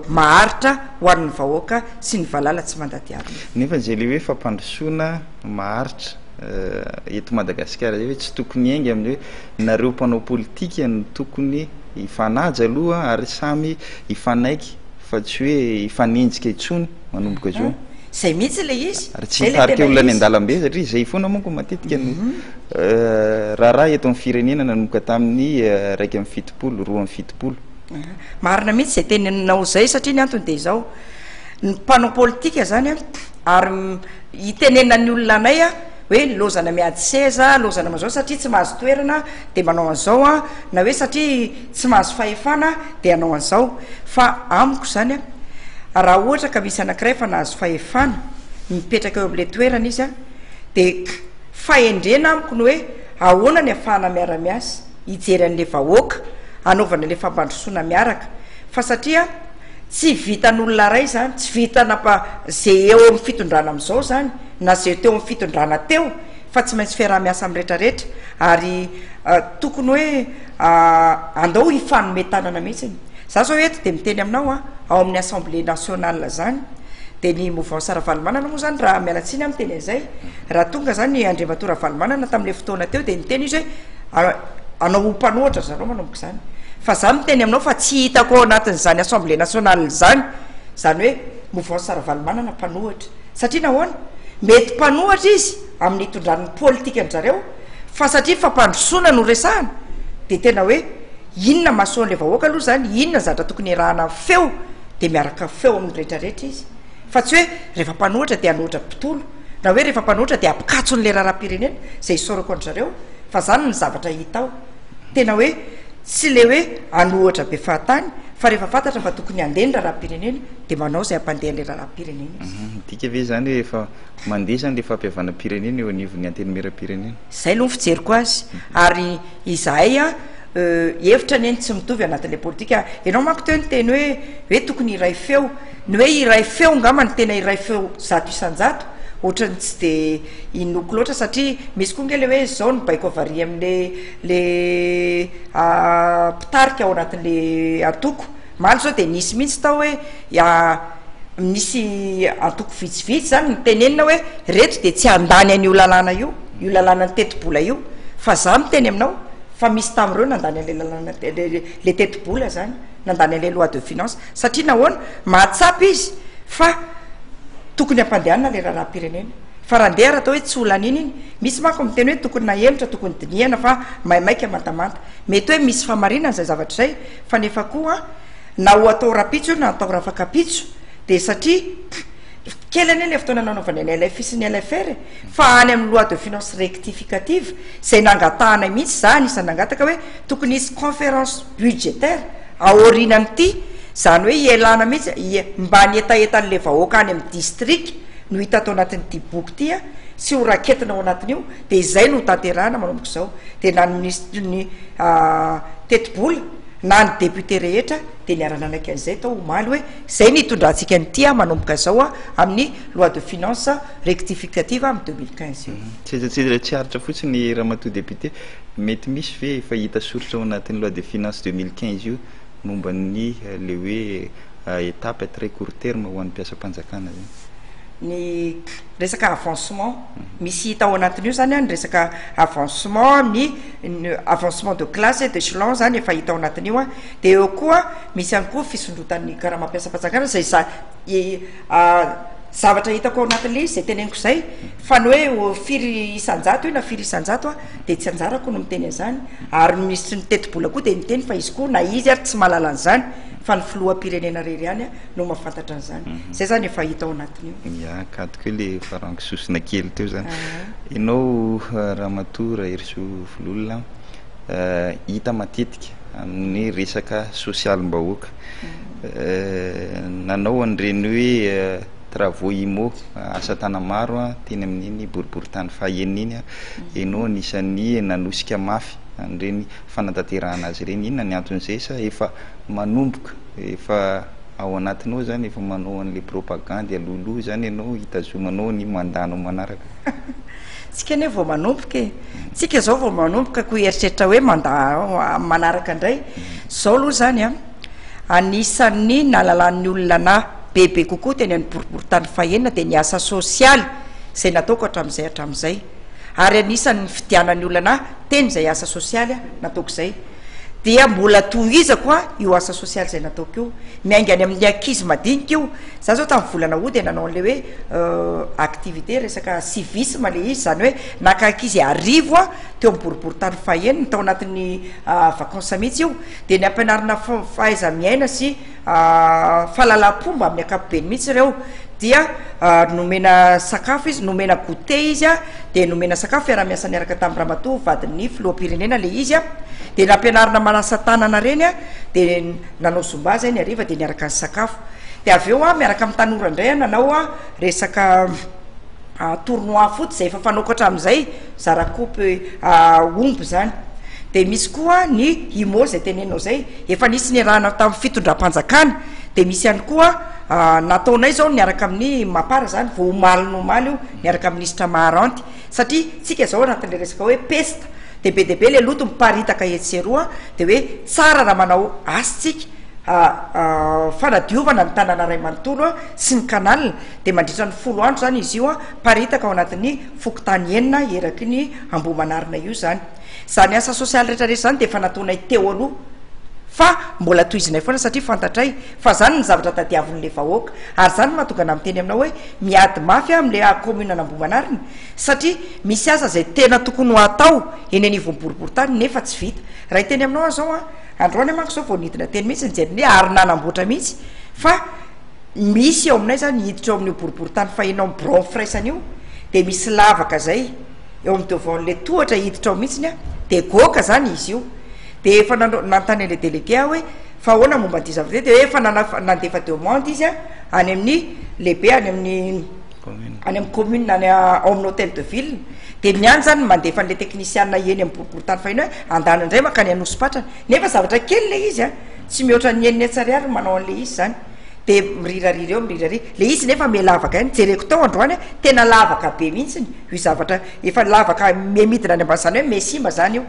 maharitra ho an'ny vahoaka sy ny valala tsy mandadihadona. Nefa izay ilay hoe fampandrosoana maharitra eto Madagasikara izay hoe tsy tokony hiainga amin'ny hoe nareo mpanao politika no tokony hifanaja aloha ary samy hifanaiky Fa tsy hoe hifanenjika intsony manomboka izao. Izay mihitsy ilay izy. Ary tsy hitarika olona any an-dalambe satria izay foana manko matetika no raharaha eto amin'ny firenena nanomboka tamin'ny iraika amby fitopolo, roa amby fitopolo. Marina mihitsy izay teninao izay satria ny antony dia izao, ny mpanao politika izany ary hitenenan'ny olona anay, hoe lozana miady seza, lozana manao izao satria tsy mahazo toerana dia manao an'izao an, na hoe satria tsy mahazo fahefana dia hanao an'izao. Fa amiko izany an, raha ohatra ka misy anankiray efa nahazo fahefana, mipetraka eo amin'ilay toerana izy an, dia k, fahendrena amiko ny hoe ahoana ny ahafahana miara-miasa, hijery an'ilay vahoaka, hanaovana ilay fampandrosoana miaraka, fa satria. Tsy vitan'olona iray izany, tsy vitan'apa izay eo amin'ny fitondrana amin'izao izany na izay teo amin'ny fitondrana teo fa tsy maintsy fiaraha-miasa amin'ny rehetra rehetra ary tokony hoe andao hifanome tanana mihitsy. Za zao eto de miteny aminao a, ao amin'ny assemblée nationale zany de ny mouvance Ravalomanana moa zany raha miala tsiny a miteny an'izay, raha tonga zany Andriamatoa Ravalomanana tamin'ilay fotoana teo de niteny izy hoe, Anao ho mpanohatra zareo manomboka izany. Fa za miteny aminao fa tsy hitako ao anatin'izany assemblée nationale izany, izany hoe mouvance Ravalomanana mpanohatra. Satria nahoana? Mety mpanohatra izy amin'ny hitondrany ny politikan-dry zareo fa satria fampandrosoana no resahana dia tena hoe inona mahasoa an'ilay vahoaka aloha izany, inona ny zavatra tokony hiarahana feo dia miaraka feo amin'ny rehetrarehetra izy. Fa tsy hoe rehefa mpanohitra dia hanohitra mpitolo, na hoe rehefa mpanohitra dia mpikatso an'ilay raharaham-pirenena, izay isaorako an-dry zareo fa izany ny zavatra hita ao. Tena hoe tsy ilay hoe hanohitra be fahatany fa rehefa fantatra fa tokony handeha ny raharaham-pirenena dia manao izay hampandeha an'ilay raharaham-pirenena izy. Midika ve izany hoe efa mandeha izany ilay fampihavanam-pirenena eo anivon'ny Antenimieram-pirenena? Izay aloha ny fijeriko azy. Ary izahay hevitra anie ny tsy mitovy anatin'ilay politika. Ianao manko teo niteny hoe hoe tokony hiray feo. Ny hoe iray feo angamba no tena iray feo zato isan-jato, ohatran'ny tsy dia inoako loatra satria misy koa ange le hoe zao no baiko avarihy amle le mpitarika ao anatinle antoko, omaly zao de nisy mihitsy tao hoe misy antoko vitsivitsy zany no tenenina hoe reto de tsy handany an'io lalàna io, io lalànan'ny tetibola io, fa za miteny aminao fa misy tamin'ireo nandany anle lalàna le tetibola zany. nandany an'ilay loi de finance satria nahoana? Mahatsapa izy fa tokony hampandehanina ilay raharaham-pirenena fa raha ndeha ary atao hoe tsy ho laniana iny, misy manko ny miteny hoe tokony nahemotra, tokony dinihana fa maimaika mantamanta. Mety hoe misy fahamarinana izay zavatra izay fa nefa koa na ho atao rapitso io na atao rafakapitso dia satria kely anie ilay fotoana nanaovana ny LFI sy ny LFR e! fa any amin'ny loi de finance rectificative izay nangatahanay mihitsy, izaho anisan'ny nangataka hoe tokony hisy conférence budgétaire aorinan'ity, izany hoe ialana mihitsy mba ny hetahetan'ilay vahoaka any amin'ny distrika no hita ato anatin'ity boky ity sy ho raketina ao anatin'io dia izay no hotanterahina manomboka izao, dia na ny minisitry ny tetibola na ny député rehetra dia niara-nanaiky an'izay tao omaly hoe izay no hitondrantsika an'ity manomboka izao amin'ny loi de finances rectificative amin'ny deux mille quinze io. Tsy aiza tsy aiza ilay tsy aritra fotsiny Ramatoa député. mety misy ve efa hita soritra ao anatin'ny loi de finances deux mille quinze io momba ny ilay hoe étape à très court terme ho an'ny mpiasam-panjakana zany? Ny resaka avancement, misy hita ao anatin'io zany an ny resaka avancement ny avancement de classe et d'echelon zany efa hita ao anatin'io an, dia eo koa misy ihany koa fisondrotan'ny karama mpiasam-panjakana izay za- zavatra hitako ao anatin'ilay izy izay teneniko izay fa ny hoe firy isan-jato io na firy isan-jato an dia tsy anjarako ny miteny an'izany ary ny minisitry ny tetibola koa dia miteny fa izy koa na izy ary tsy mahalala an'izany fa ny filoham-pirenena irery ihany no mahafantatra an'izany. Izay izany efa hita ao anatin'io. Ia, kadiko hoe ilay efa rango sosona kely teo izany. Ianao Ramatoa Raherisoa Vololona, hita matetika amin'ny resaka sosialim-bahoaka. Nanao an'ireny hoe travaux immo, asa tanamaro, teny amin'iny boriborintany faha enina iny aho. Ianao anisan'ny nanosika mafy an'ireny fanatanterahana azy ireny. Inona ny anton'izay? Sa efa manomboka, efa ao anatinao izany, efa manao an'ilay propagandy alohaloha izany ianao, hitazomanao ny mandat-nao manaraka? Tsika anie vao manomboka e! Tsika izao vao manomboka koa hieritreritra hoe mandat manaraka indray. Izao aloha izany an! Anisan'ny nahalalan'ny olona anà bebe kokoa teny amin'ny boriborintany fahenina dia ny asa sosialy izay nataoko hatramin'izay hatramin'izay. Ary anisan'ny nifidianan'ny olona anà teny izay asa sosialy nataoko izay. Dia mbola tohizako io asa sosialy izay nataoko io. Miainga any amin'ny ankizy madinika io. Izaho izao tamin'ny volana août dia nanao an'ilay hoe activité resaka civisme ilay izy, izany hoe naka ankizy arivo aho teo amin'ny boriborintany fahenina, tao anatin'ny vacances mihitsy io. Dia ny ampianarana fahaiza-miaina sy fahalalam-pomba amin'ny ankapobeny mihitsy ireo, dia nomena sakafo izy, nomena goûter izy an, dia nomena sakafo, fiaraha-miasa niaraka tamin'ny ramatoa vadin'ny filoham-pirenena ilay izy an, dia nampianarina manasa tanana ireny an, dia nanao zumba izay ny hariva dia niaraka nisakafo, dia avy eo an miaraka amin'ny tanora indray an nanao resaka tournoi foot izay efa fanaoko hatramin'izay, Zara koa peu omby zany. Dia misy koa ny Himo izay tenenao izay, efa nisy niarahana tamin'ny fitondram-panjakana, dia misy ihany koa nataonay izao niaraka amin'ny Mapar izany vao omaly ny omaly io niaraka amin'ny Minisitra Maharanty satria isika izao anatin'ilay resaka hoe pesta dia be dia be ilay loto miparitaka etsy sy eroa dia hoe tsara raha manao asa isika fanadiovana ny tanàna iray manontolo sy ny canal dia mandritra ny folo andro izany izy io miparitaka ao anatin'ny fokontany enina eraky ny Ambohimanarina io izany. Izany asa sosialy rehetra rehetra izany dia efa nataonay teo aloha fa mbola tohizinay foana satria fantatray fa izany no zavatra tadiavin'ilay vahoaka ary izany no mahatonga anah miteny aminao hoe miady mafy aho amin'ilay kaominan'Ambohimanarina satria misy asa izay tena tokony ho atao eny anivon'ny boriborintany nefa tsy vita. Raha hiteny aminao aho izao an, androany aho manko izao vao nidina teny mihitsy nijery ny ary nanamboatra mihitsy fa misy eo aminay zany hiditra eo amin'io boriboritany fahenao birao firaisana io de misy lavaka zay eo amin'ny devant le tohatra hiditra ao mihitsiny a de goaka zany izy io de efa nanao- nanontany an'le delege aho hoe fa ahoana momba an'ity zavatra ity de hoe efa nana- nandefa demande izy a any amin'ny lehibe any amin'ny Commune. any amin'ny commune any a- ao amin'ny hôtel de ville de ny any zany no mandefa an'le teknisiana eny amin'ny boriboritany faheno hoe andana indray mankany Anosipatrana nefa zavatra kely le izy a Tsy mihoatra ny enina hetsy ariary ny manao an'ilay izy izany, dia mirirarira eo mirirarira. Ilay izy nefa miha lavaka ihany, jereko tao androany an, tena lavaka be mihitsy io zavatra, efa lavaka miha midina any ambany, izany hoe miha simba izany io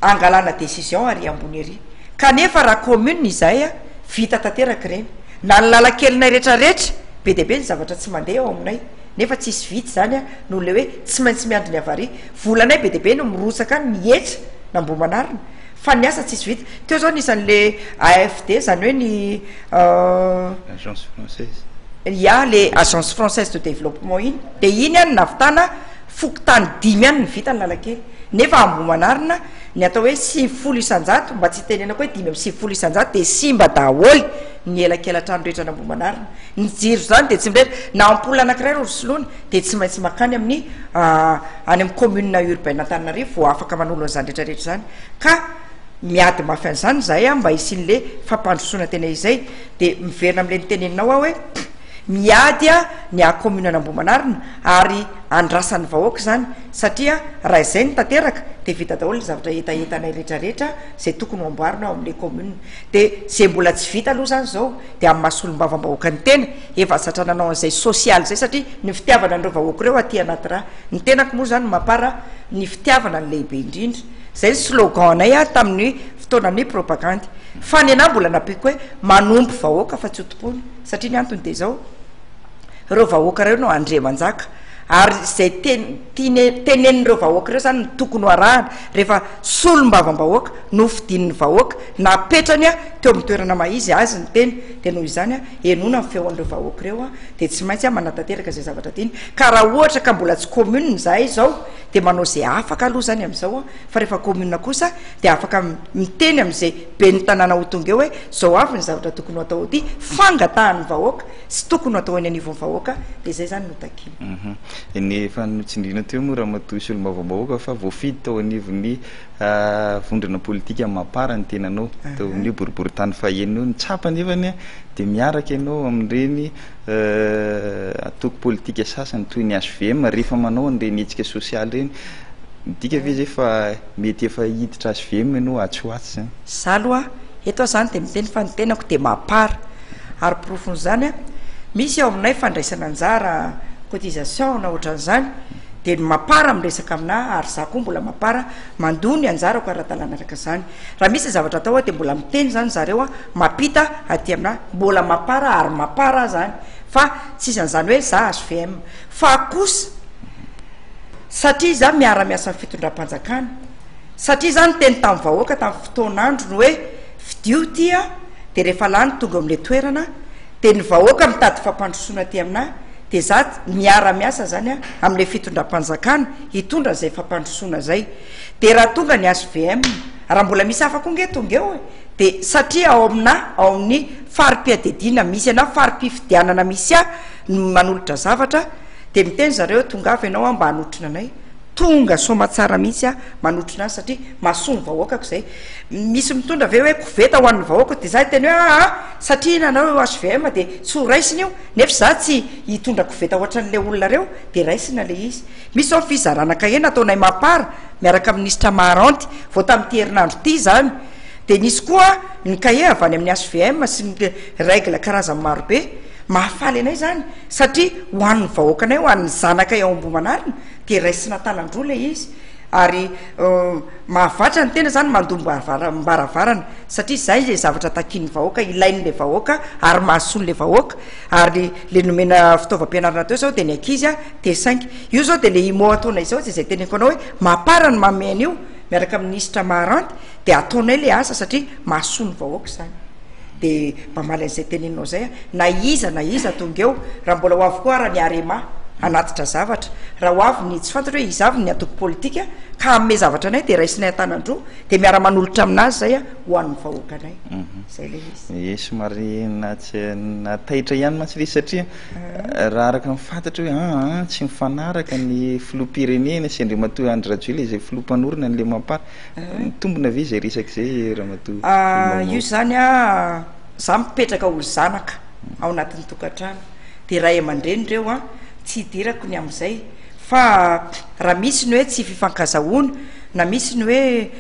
hangalana décision ary ambony ery. Kanefa raha commune izahay an, vita tanteraka ireny. Na ny lalan-kelinay rehetrarehetra, be dia be ny zavatra tsy mandeha ao aminay, nefa tsisy vita izany an, noho ilay hoe tsy maintsy miandry ny avarie. Volanay be dia be no mirotsaka any mihetra na Ambohimanarina, Fa ny asa tsisy vita. Teo zao nisy anle AFD zany hoe ny Agence française. Ya le Agence française de développement iny de iny an nahavitana fokontany dimy ihany ny vita analakely nefa ambohimanarina ny atao hoe sivifolo isanjato mba tsy hitenenako hoe dimy amby sivifolo isanjato de simba daholo ny elakelatrano rehetra an'ambohimanarina ny jiro zany de tsy mirehitra na ampoule anakiray ro soloina dia tsy maintsy mankany amin'ny any amin'ny commune urbaine Antananarivo vao afaka manolo an'izany rehetra rehetra izany ka miady mafy an'izany izahay mba hisian'le fampandrosoana tena izay dia miverina amin'le niteneninao aho hoe miady ny aha commune an'Ambohimanarina ary andrasan'ny vahoaka izany satria raha izay no tanteraka dia vita daholo ny zavatra hetahetanay rehetra rehetra izay tokony ho amboarina ao amin'le commune dia izay mbola tsy vita aloha izany izao dia amin'ny maha solombavam-bahoakan'ny tena Efa zatra nanao an'izay sosialy izay satria ny fitiavana an'ireo vahoaka ireo aty anaty rà. Ny tenako moa izany mapar ny fitiavana no lehibe indrindra. Izay ny slogan anay ary tamin'ny fotoanan'ny propagandy. Fa ny anah mbola nampiako hoe manompo vahoaka fa tsy ho tompoina. Satria ny antony dia izao, ireo vahoaka ireo no andriamanjaka ary izay teny tenenin'ireo vahoaka ireo izany no tokony ho arahana rehefa solombavambahoaka nofidian'ny vahoaka napetrany teo amin'ny toerana maha izy azy ny teny Dia noho izany, henoina ny feon'ireo vahoaka ireo, dia tsy maintsy manatanteraka izay zavatra tiany. Ka raha ohatra ka mbola tsy commune izahay izao, dia manao izay afaka aloha izany amin'izao, fa rehefa commune kosa, dia afaka miteny amin'izay ben'ny tanàna ho tonga eo hoe, izao avy ny zavatra tokony ho atao aty, fangatahan'ny vahoaka sy tokony ho atao eny anivon'ny vahoaka, dia izay izany no takiana. Ny efa notsindriana teo moa Ramatoa Solombavambahoaka fa voafidy tao anivon'ny. vondrona politika mamapara ny tenanao teo amin'io boriborintany fahenina io. Ny tsapa anefany a, dia miaraka ianao amin'ireny antoko politika sasany toy ny hvm rehefa manao an'ireny hetsika sosialy ireny. Midika ve izay fa mety efa hiditra hvm ianao atsy ho atsy izany? Izaho aloha eto aho izany dia miteny fa ny tenako dia mamapara. Ary porofon'izany a, misy ao aminay fandraisana anjara, cotisation na ohatran'izany, Dia ny mapara miresaka aminà ary izaho koa mbola mapara mandoa ny anjarako ara-dalàna araka izany. Raha misy zavatra atao aho dia mbola miteny izany zareo aho, mampita aty aminà mbola mapara ary mapara aho izany fa tsy isan'izany hoe za hvm. Fa kosa satria za miara-miasa amin'ny fitondram-panjakana, satria za niteny tamin'ny vahoaka tamin'ny fotoan'androny hoe fidio ity aho dia rehefa lany tonga eo amin'ilay toerana dia ny vahoaka mitady fampandrosoana aty aminà, Dia za miara miasa zany a amle fitondram-panjakana hitondra zay fampandrosoana zay. Dia raha tonga ny HVM, raha mbola misy hafa koa nge tonga eo e, dia satria ao amina ao amin'ny fari-piadediana misy ana fari-pifidianana misy ahy no manolotra zavatra dia miteny zareo hoe tongava ianao a mba hanotrona anay. Tonga soamatsara mihitsy aho manotrona azy satria mahasoa ny vahoakako zay. Misy mitondra ve hoe koveta ho an'ny vahoakako dia za hiteny hoe aa satria nanao io HVM dia tsy ho raisina io. Nefa izaho tsy hitondra koveta hoatran'ilay olona reo dia raisina ilay izy. Misy izao ny fizarana kahena ataonay Mapar miaraka amin'ny Minisitra Maharanty vao tamin'ity herinandro ity izany. Dia nisy koa ny kahie avy any amin'ny HVM sy ny règle karazany marobe. Mahafaly anay izany satria ho an'ny vahoakanay, ho an'ny zanakay ao Ambohimanarina dia raisina tanan-droa ilay izy. ary mahavatra ny tena zany mandombo varavarana satria zay le zavatra takian'ny vahoaka ilain'le vahoaka ary mahasoa le vahoaka ary le nomena fitaovam-pianarana teo zao de ny ankizy a te saingy io zao de le imot ataonay izao zay zay teneniko anao hoe mapara ny mamey an'io miaraka minisitra maharanty de ataonay le asa satria mahasoa ny vahoaka zany Dia mba mamaly an'izay teneninao izay aho, na iza na iza tonga eo, raha mbola ho avy koa ara ny Arema hanatitra zavatra, raha ho avy ny tsy fantatro hoe iza avy ny antoko politika ka hanome zavatra anay dia raisinay an-tanan-droa dia miara-manolotra amin'azy izay aho ho an'ny vahoakanay. Izay ilay izy. Ie, somary na taitra ihany mantsy ilay izy satria raha araka ny fantatra hoe an an tsy mifanaraka ny filoham-pirenena sy Andriamatoa Andry Rajoelina izay filoha mpanorina ny Lemam-par. Mitombina ve izay resaka izay ramatoa Maman? Io izany a, za mipetraka ho zanaka ao anatin'ny tokantrano dia ray aman-dreny ireo a, tsy hidirako ny amin'izay fa raha misy ny hoe tsy fifankazahoana na misy ny hoe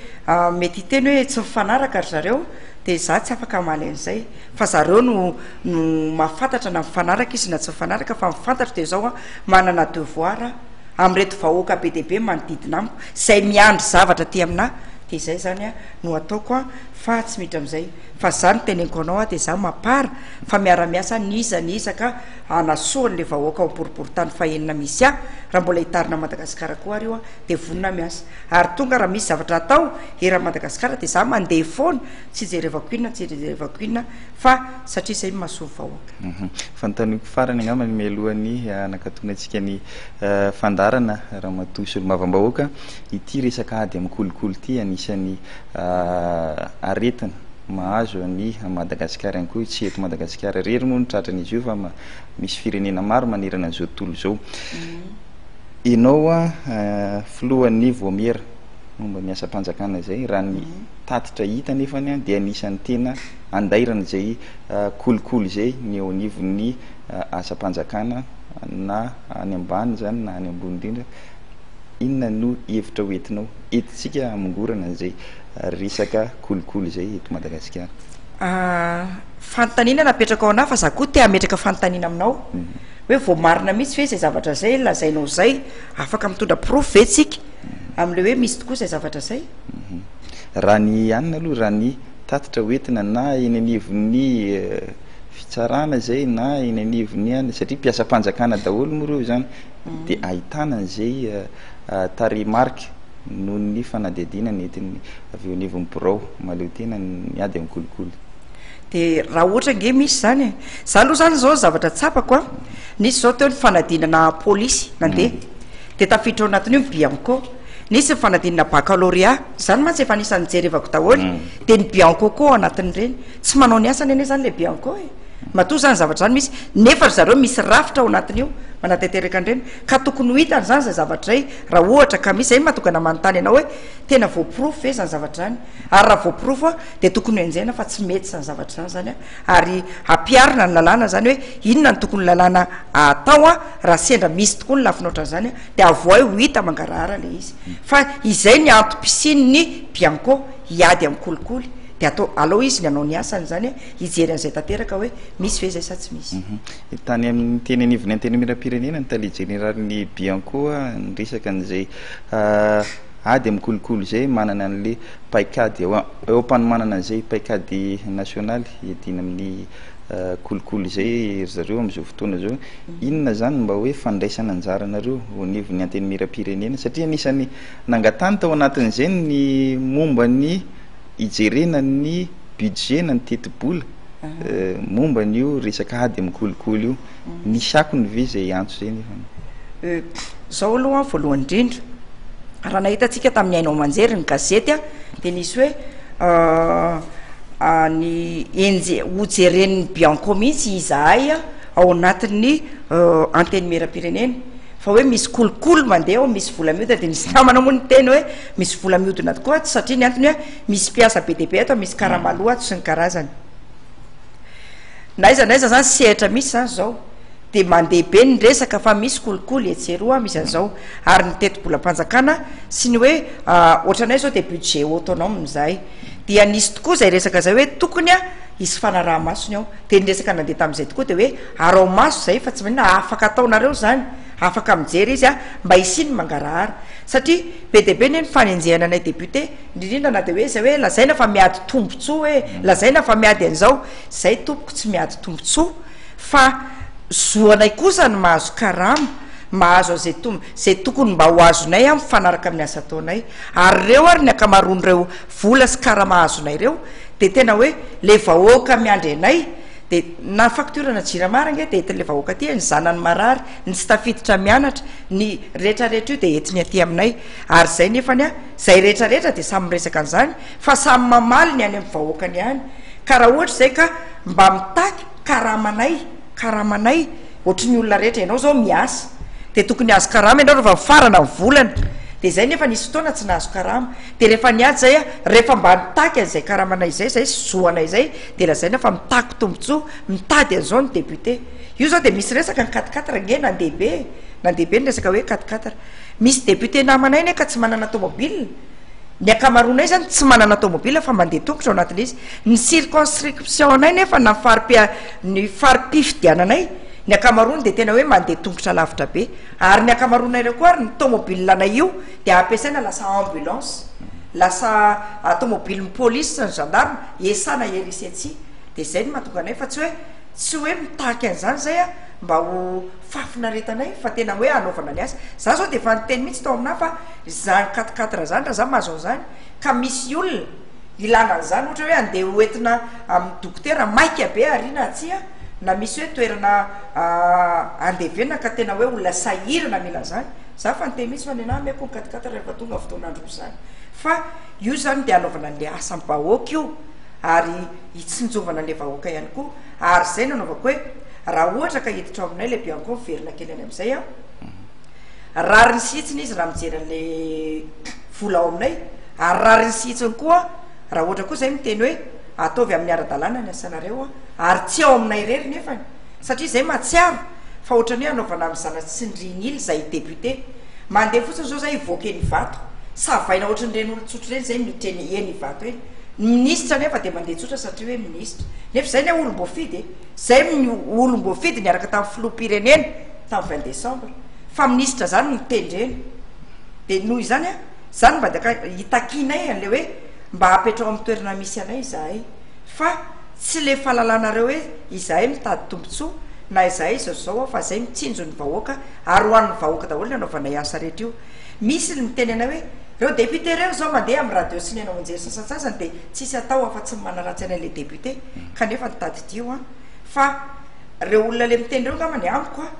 mety hiteny hoe tsy mifanaraka ry zareo dia za tsy afaka hamaly an'izay fa zareo no no mahafantatra na mifanaraka izy na tsy mifanaraka fa ny fantatro dia izao a, manana devoir a. amin'ireto vahoaka be dia be manodidina amiko izay miandry zavatra aty aminà dia izay izany no hataoko an fa tsy miditra amin'izay fa izaho no teneniko anao an dia izaho mapara fa miara-miasa ny iza ny iza ka hanasoa an'ilay vahoaka ao am-poriporintany fahenina misy ahy raha mbola hitarina an'i Madagasikara koa ary io an dia vonona miasa ary tonga raha misy zavatra hatao eran'i Madagasikara dia izaho mandeha foana Tsy jerevako inona tsy jerevako inona fa satria zay no mahasoa vahoaka. Hum fanontaniako farany angamba ny mialohan'ny hanakatonantsika ny fandaharana Ramatoa Solombavambahoaka ity resaka ady amin'ny kolikoly ity anisan'ny aretina mahazo an'i Madagasikara ihany koa tsy eto Madagasikara irery moa no tratran'izy io fa misy firenena maro manerana an'izao tontolo izao. Ianao filohan'ny Vaomiera. momba ny asam-panjakana izay, raha ny tatitra hita anefany dia anisan'ny tena andairana izay kolikoly izay ny eo anivon'ny asam-panjakana na any ambany izany na any ambony indrindra, inona no hevitra ho entinao entintsika hamongorana an'izay resaka kolikoly izay eto Madagasikara? Fanontaniana napetrakao anah fa za koa te hametraka fanontaniana aminao hoe voamarina mihitsy ve izay zavatra izay lazainao izay? Afaka mitondra porofo ve tsika? amin'ilay hoe misy tokoa izay zavatra izay? Raha ny anona aloha, raha ny tatitra hoentina na eny anivon'ny fitsarana izay na eny anivon'ny anona, satria mpiasam-panjakana daholo moa ireo izany, dia ahitana an'izay tarehimarika noho ny fanadihadiana nentin'ny avy eo anivon'ny birao mahaleo tena ny ady amin'ny kolikoly. Dia raha ohatra ange misy izany e! Izaho aloha izany izao ny zavatra tsapako an! Nisy izao teo ny fanadinana polisy nandeha, dia tafiditra ao anatin'io ny Bianco, nisy ny fanadinana baccalauréat, izany mantsy efa anisan'ny jerevako daholo e, dia ny Bianco koa ao anatin'ireny, tsy manao ny asany anie izany ilay Bianco e, matoa izany zavatra izany misy, nefa ry zareo misy rafitra ao anatin'io manatanteraka an'ireny, ka tokony ho hitany izany izay zavatra izay raha ohatra ka misy, izay no mahatonga ana manontany anao hoe tena voaporofo ve izany zavatra izany, ary raha voaporofo dia tokony ho enjehina fa tsy mety izany zavatra izany izany an. ary hampiharina ny lalàna izany hoe inona no tokony lalàna atao an, raha sendra misy tokoa ny lafiny ohatran'izany an, dia avohay ho hita mangarahara ilay izy, fa izay ny antom-pisian'ny bianco hiady amin'ny kolikoly dia atao, alao izy ny hanao ny asany izany hoe hijery an'izay tanteraka hoe misy ve izay sa tsy misy. Tany amin'ny teny anivon'ny Antenimierampirenena ny tale jeneralin'ny bianco niresaka an'izay. ady amin'ny kolikoly izay manana an'ilay paikady eo eo am-panomanana an'izay paikady nasionaly iadiana amin'ny kolikoly izay ry zareo amin'izao fotoana izao. Inona izany mba hoe fandraisana anjara anareo eo anivon'ny Antenimierampirenena satria anisan'ny nangatany tao anatin'izay ny momba ny hijerena ny budget na ny tetibola momba an'io resaka ady amin'ny kolikoly io. Nisy akony ve izay hiantso izay nefa ny. Izao aloha voalohany indrindra, raha nahita antsika tamin'ny haino aman-jery ny gazety dia nisy hoe ny enje, ho jeren'ny Bianco mihitsy izahay ao anatin'ny Antenimierampirenena fa hoe misy kolikoly mandeha ao, misy vola miodina, dia nisy namana moa niteny hoe misy vola miodina tokoa ato satria ny antony hoe misy mpiasa be dia be ato, misy karama aloa ato sy ny karazany. Na aiza na aiza zany sehatra misy zany zao de mandeha be ny resaka fa misy kolikoly etsy eroa misy an'zao ary ny tetibolam-panjakana sy ny hoe ohatranay zao de budget autonome zahay dia nisy tokoa zay resaka zay hoe tokony a hisy fanaraha-maso ny ao de ny resaka nandeha tamin'izay tokoa de hoe arao-maso zay fa tsy maninona afaka ataonareo zany afaka mijery izy a mba hisia ny mangarahara satria be dia be ny fanenjehana anay député indrindra na de hoe zay hoe lazaina fa miady tombotsoa hoe lazaina fa miady an'zao Zay tompoko tsy miady tombotsoa fa zo anay kosa ny mahazo karama, mahazo an'izay tombo zay tokony mba ho azonay a mifanaraka amin'ny asa ataonay ary reo ary ny ankamaroan'ireo vola sy karama azonay reo de tena hoe le vahoaka miandry anay de na facture na jirama ary ange de entin'le vahoaka aty e ny zanany marary ny tsy tafiditra mianatra ny retraretra io de entiny aty aminay ary zay nefany a zay retraretra de samy miresaka an'zany Fa samy mamaly ny any amin'ny vahoakany ihany ka raha ohatra izay ka mba mitaky karamanay karamanay ohatry ny olona rehetra ianao izao miasa dia tokony azo karama ianao rehefa mifarana ny volana dia izay nefa nisy fotoana tsy nahazo karama dia rehefa niady izay a rehefa mba nitaky an'izay karamanay izay izay sy zoanay izay dia lazaina fa mitaky tombontsoa mitady an'izao ny député io izao dia misy resaka ny quatre quatre ange nandeha be e nandeha be ny resaka hoe quatre quatre misy député namanay anie ka tsy manana tomobile Ny ankamaroanay izany tsy manana tômôbila fa mandeha tongotra ao anatin'ilay izy. Ny circonscription-nay nefa na fari-pia- ny fari-pifidiananay, ny ankamaroany dia tena hoe mandeha tongotra lavitra be. Ary ny ankamaroanay ireo koa ary ny tômôbilanay io dia ampiasaina lasa ambulance, lasa tômôbilin'ny pôlisy sy ny gendarme hiasana ery sy atsy. Dia izay no mahatonga anay fa tsy hoe tsy hoe mitaky an'izany izay aho mba ho fahafinaretanay fa tena hoe hanaovana ny asa. Izaho izao dia efa niteny mihitsy tao aminahy fa Izany katikaty ra zany ra za mahazo an'izany ka misy olona ilana an'izany ohatra hoe andeha ho entina amin'ny dokotera maika be ariana aty a na misy hoe toerana andevenana ka tena hoe olona sahirana mila an'izany za efa niteny mihitsy fa ny anah ameko ny katikaty rehefa tonga fotoana andro izany fa io zany dia anaovana an'le asam-bahoaka io ary hitsinjovana an'le vahoaka ihany koa ary zay no anaovako hoe raha ohatra ka hiditra ao aminay le bianco miverina kely any amin'izay aho Rariny sy hitsiny izy raha mijery an'ilay vola ao aminay, ary rariny sy hitsiny koa raha ohatra koa izay miteny hoe ataovy amin'ny ara-dalàna ny asanareo, ary tsy ao aminay irery nefany, satria izay mahatsiaro fa ohatran'ny hoe anaovana amin'ny zana-tsindrin'ila izay député. Mandeha fotsiny izao izay hivoaka eny Ivato, savaina ohatry ny ireny olon-tsotra ireny izay miditra eny eny Ivato eny. Ny minisitra anefa dia mandeha tsotra satria hoe minisitra. Nefa izay ilay olom-boafidy e! Izay olom-boafidy niaraka tamin'ny filoham-pirenena tamin'ny vingt décembre. Fa minisitra zany no tendrena de noho izany a zany mba daka hitakianay anle hoe mba apetrao am toerana misy anay izahay fa tsy le falalanareo hoe izahay mitady tombotsoa na izahay izao zao a fa zay mitsinjo ny vahoaka ary ho an'ny vahoaka daholo ny anaovanay asa rehetra io misy ny miteny anay hoe reo depute reo zao mandeha am radio sy ny anaonjery sasantsasany de tsisy atao afa tsy manaratsy anay le depute kanefa ny tadidio a fa reo olona le miteny reo ngamba ny amiko a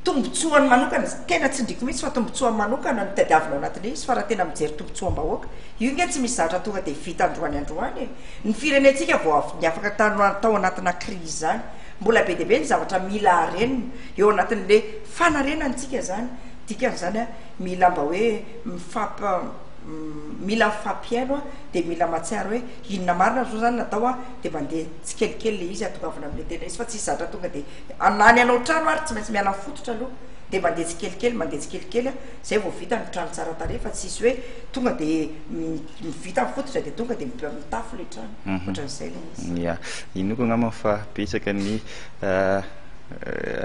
tombontsoany manokana, tena tsindriko mihitsy fa tombontsoany manokana no tadiavina ao anatin'io izy fa raha tena mijery tombontsoam-bahoaka, io nge tsy misy zavatra tonga dia vita androany androany e! Ny firenentsika vao avy niafaka tano tao anatina crise izany, mbola be dia be ny zavatra mila harenina eo anatin'le fanarenantsika izany, dikan'izany a, mila mba hoe mifamp mila mifampihaino a, dia mila mahatsiaro hoe inona marina ry zareo izany natao a, dia mandeha tsikelikely le izy atongavana amle tena izy fa tsisy zatra tonga dia. Na ny hanao trano ary tsy maintsy miala fototra aloha dia mandeha tsikelikely mandeha tsikelikely a, zay vao vita ny trano tsara tarehy fa tsisy hoe tonga dia vita ny fototra dia tonga dia mitafo ilay trano, ohatran'izay ilay izy. Ya, inoako angamba fa betsaka ny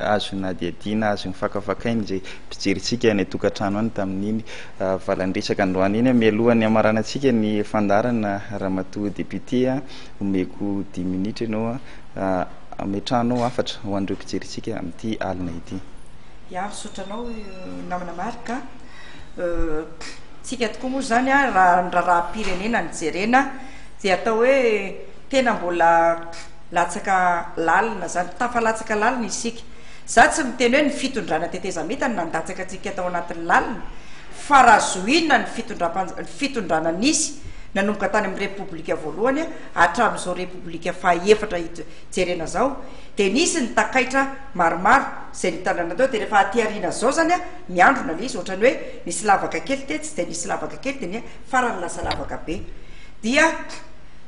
azo nadihadiana, azo nofakafakaina izay mpijery antsika any an-tokantrano any tamin'iny valan-dresaka androany iny. Mialoha ny hamaranantsika ny fandaharana, Ramatoa Député a, omeko dimy minitra ianao a. Ametrahanao hafatra ho an'ireo mpijery antsika amin'ity alina ity. Ya, misaotra anao namana Marc a. Tsika tokoa moa izany a, raha ny raharaham-pirenena no jerena dia atao hoe tena mbola latsaka lalina izany, tafalatsaka lalina isika. Za tsy miteny hoe ny fitondrana tetezamita no nandatsaka antsika tao anatin'ny lalina fa raha zohiana ny fitondram-panj- ny fitondrana nisy nanomboka tany amin'ny repoblika voalohany a, Hatramin'izao Repoblika faha-efatra ito jerena izao dia nisy ny takaitra maromaro izay nitandrina teo dia rehefa aty aoriana izao izany an, miandrona ilay izy ohatran'ny hoe nisy lavaka kely tetsy dia nisy lavaka kely dia ny farany lasa lavaka be dia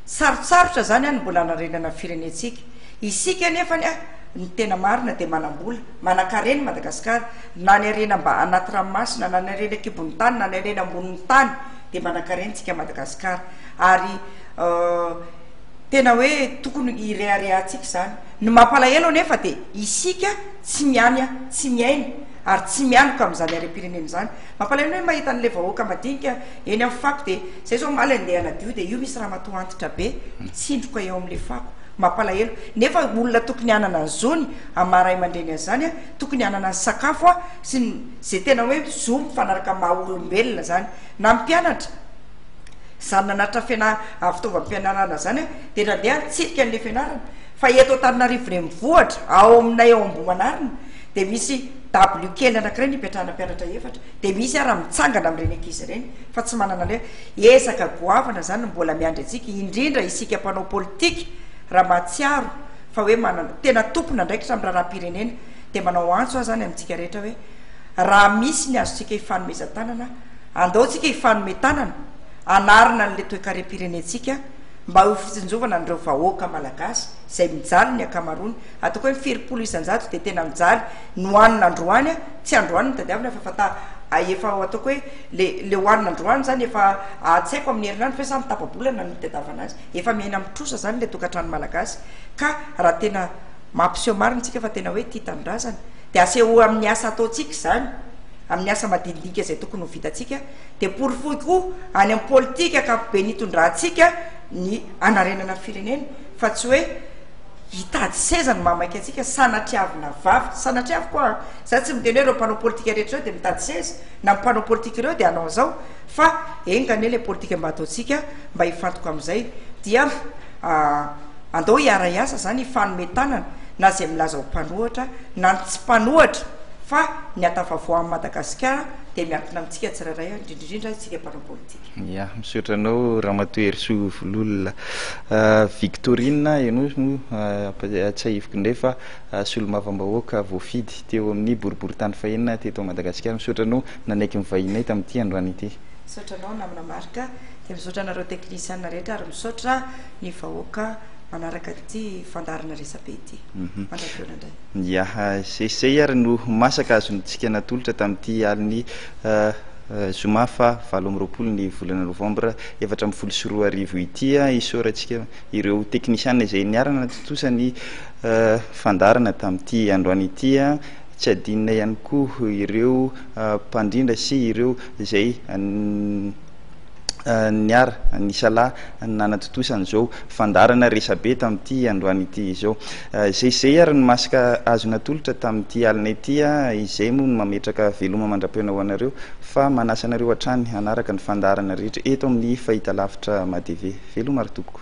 sarotsarotra izany an ny mbola hanarenana ny firenentsika. Isika anefany an ny tena marina dia manam-bola, manan-karena i Madagasikara na ny harena mba anaty ranomasina na ny harena an-kibon'ny tany na ny harena ambonin'ny tany dia manan-karena tsika Madagasikara ary Tena hoe tokony hireharehantsika izany. Ny mampalahelo anefa dia isika tsy miany, tsy miaina ary tsy mianoka amin'izany harem-pirenena izany. Mampalahelo ny hoe mahita an'ilay vahoaka madinika eny amin'ny fako dia izay izao omaly andeha hanadio dia io misy ramatoa antitra be mitsindroka eo amin'ilay fako. Mampalahelo. Nefa olona tokony hanana ny zony amin'ny maha ray aman-dreny azy izany, tokony hanana ny sakafo sy ny izay tena hoe zo mifanaraka amin'ny maha olombelona izany. Na ny mpianatra. Izany nanatitra fianarana avy fitaovam-pianarana izany aho dia nandeha nitsidika an'ilay fianarana fa eto Antananarivo Renivohitra ao aminay ao Ambohimanarina dia misy dabilio kely anankiray nipetrahana mpianatra efatra dia misy ara mitsangana amin'ireny ankizy ireny fa tsy manana an'ilay ezaka goavana izany no mbola miandry antsika indrindra isika mpanao politika raha mahatsiaro fa hoe manana tena tompon'andraikitra amin'ny raharaham-pirenena dia manao antso aho izany amintsika rehetra hoe raha misy ny azontsika hifanomezan-tanana Andao tsika hifanome tanana hanarina an'ilay toekarem-pirenentsika mba ho fitsinjovana an'ireo vahoaka Malagasy izay mijaly ny ankamaroany, ataoko hoe ny firimpolo isan-jato dia tena mijaly no anona androany, tsy androany no tadiavina fa fanta efa ataoko hoe le le ho anona androany izany efa tsy haiko amin'ny herinandro ve sa amin'ny tapa-bolana no hitadiavana azy, efa miaina amin'ny trosa izany ilay tokantrano Malagasy ka raha tena mampiseho marina isika fa tena hoe tia tanindrazana, Dia asehoy amin'ny asa ataontsika izany, amin'ny asa madinidinika izay tokony ho vitantsika, dia porofoy koa any amin'ny politika ankapobeny hitondrantsika ny hanarenana ny firenena, fa tsy hoe hitady seza no mahamaika antsika, sanatriavina vavy, sanatriaviko aho an, za tsy miteny hoe ireo mpanao politika rehetra ireo dia mitady seza, na ny mpanao politika ireo dia hanao an'izao, fa enga anie ilay politika mba ataontsika mba hifantoka amin'izay, dia. Andao hiara-hiasa izany hifanome tanana na izay milaza ho mpanohatra na ny tsy mpanohatra fa ny hatafavoahan'i Madagasikara dia miankina amintsika tsirairay indrindra indrindra isika mpanao politika. Ya, misaotra anao Ramatoa Herisoa Vololona. Victorine, ianao moa tsahiviko indray fa solombavambahoaka voafidy teo amin'ny boriboritany fahenina teto Madagasikara. Misaotra anao nanaiky ny vahininay tamin'ity androany ity. Misaotra anao namana Marc. Dia misaotra anareo technician rehetra ary misaotra ny vahoaka manaraka ity fandaharana resabe ity. Mandram-pihaona indray. Ya, izay izay ary no masaka azontsika natolotra tamin'ity alin'ny zoma faha valo amby roapolo ny volana novambra efatra ambin'ny folo sy roa arivo ity. Isaorantsika ireo technician izay niara-natontosa ny fandaharana tamin'ity androany ity. Tsy adinona ihany koa ireo mpandrindra sy ireo izay niara nisalahy nanatontosa an'izao fandaharana resabe tamin'ity androany ity izao. Izay izay ary ny masque azo natolotra tamin'ity alina ity, izay moa no mametraka veloma mandra-pihaona ho anareo fa manasa anareo hatrany hanaraka ny fandaharana rehetra eto amin'ny fahitalavitra madv. Veloma ry tompoko.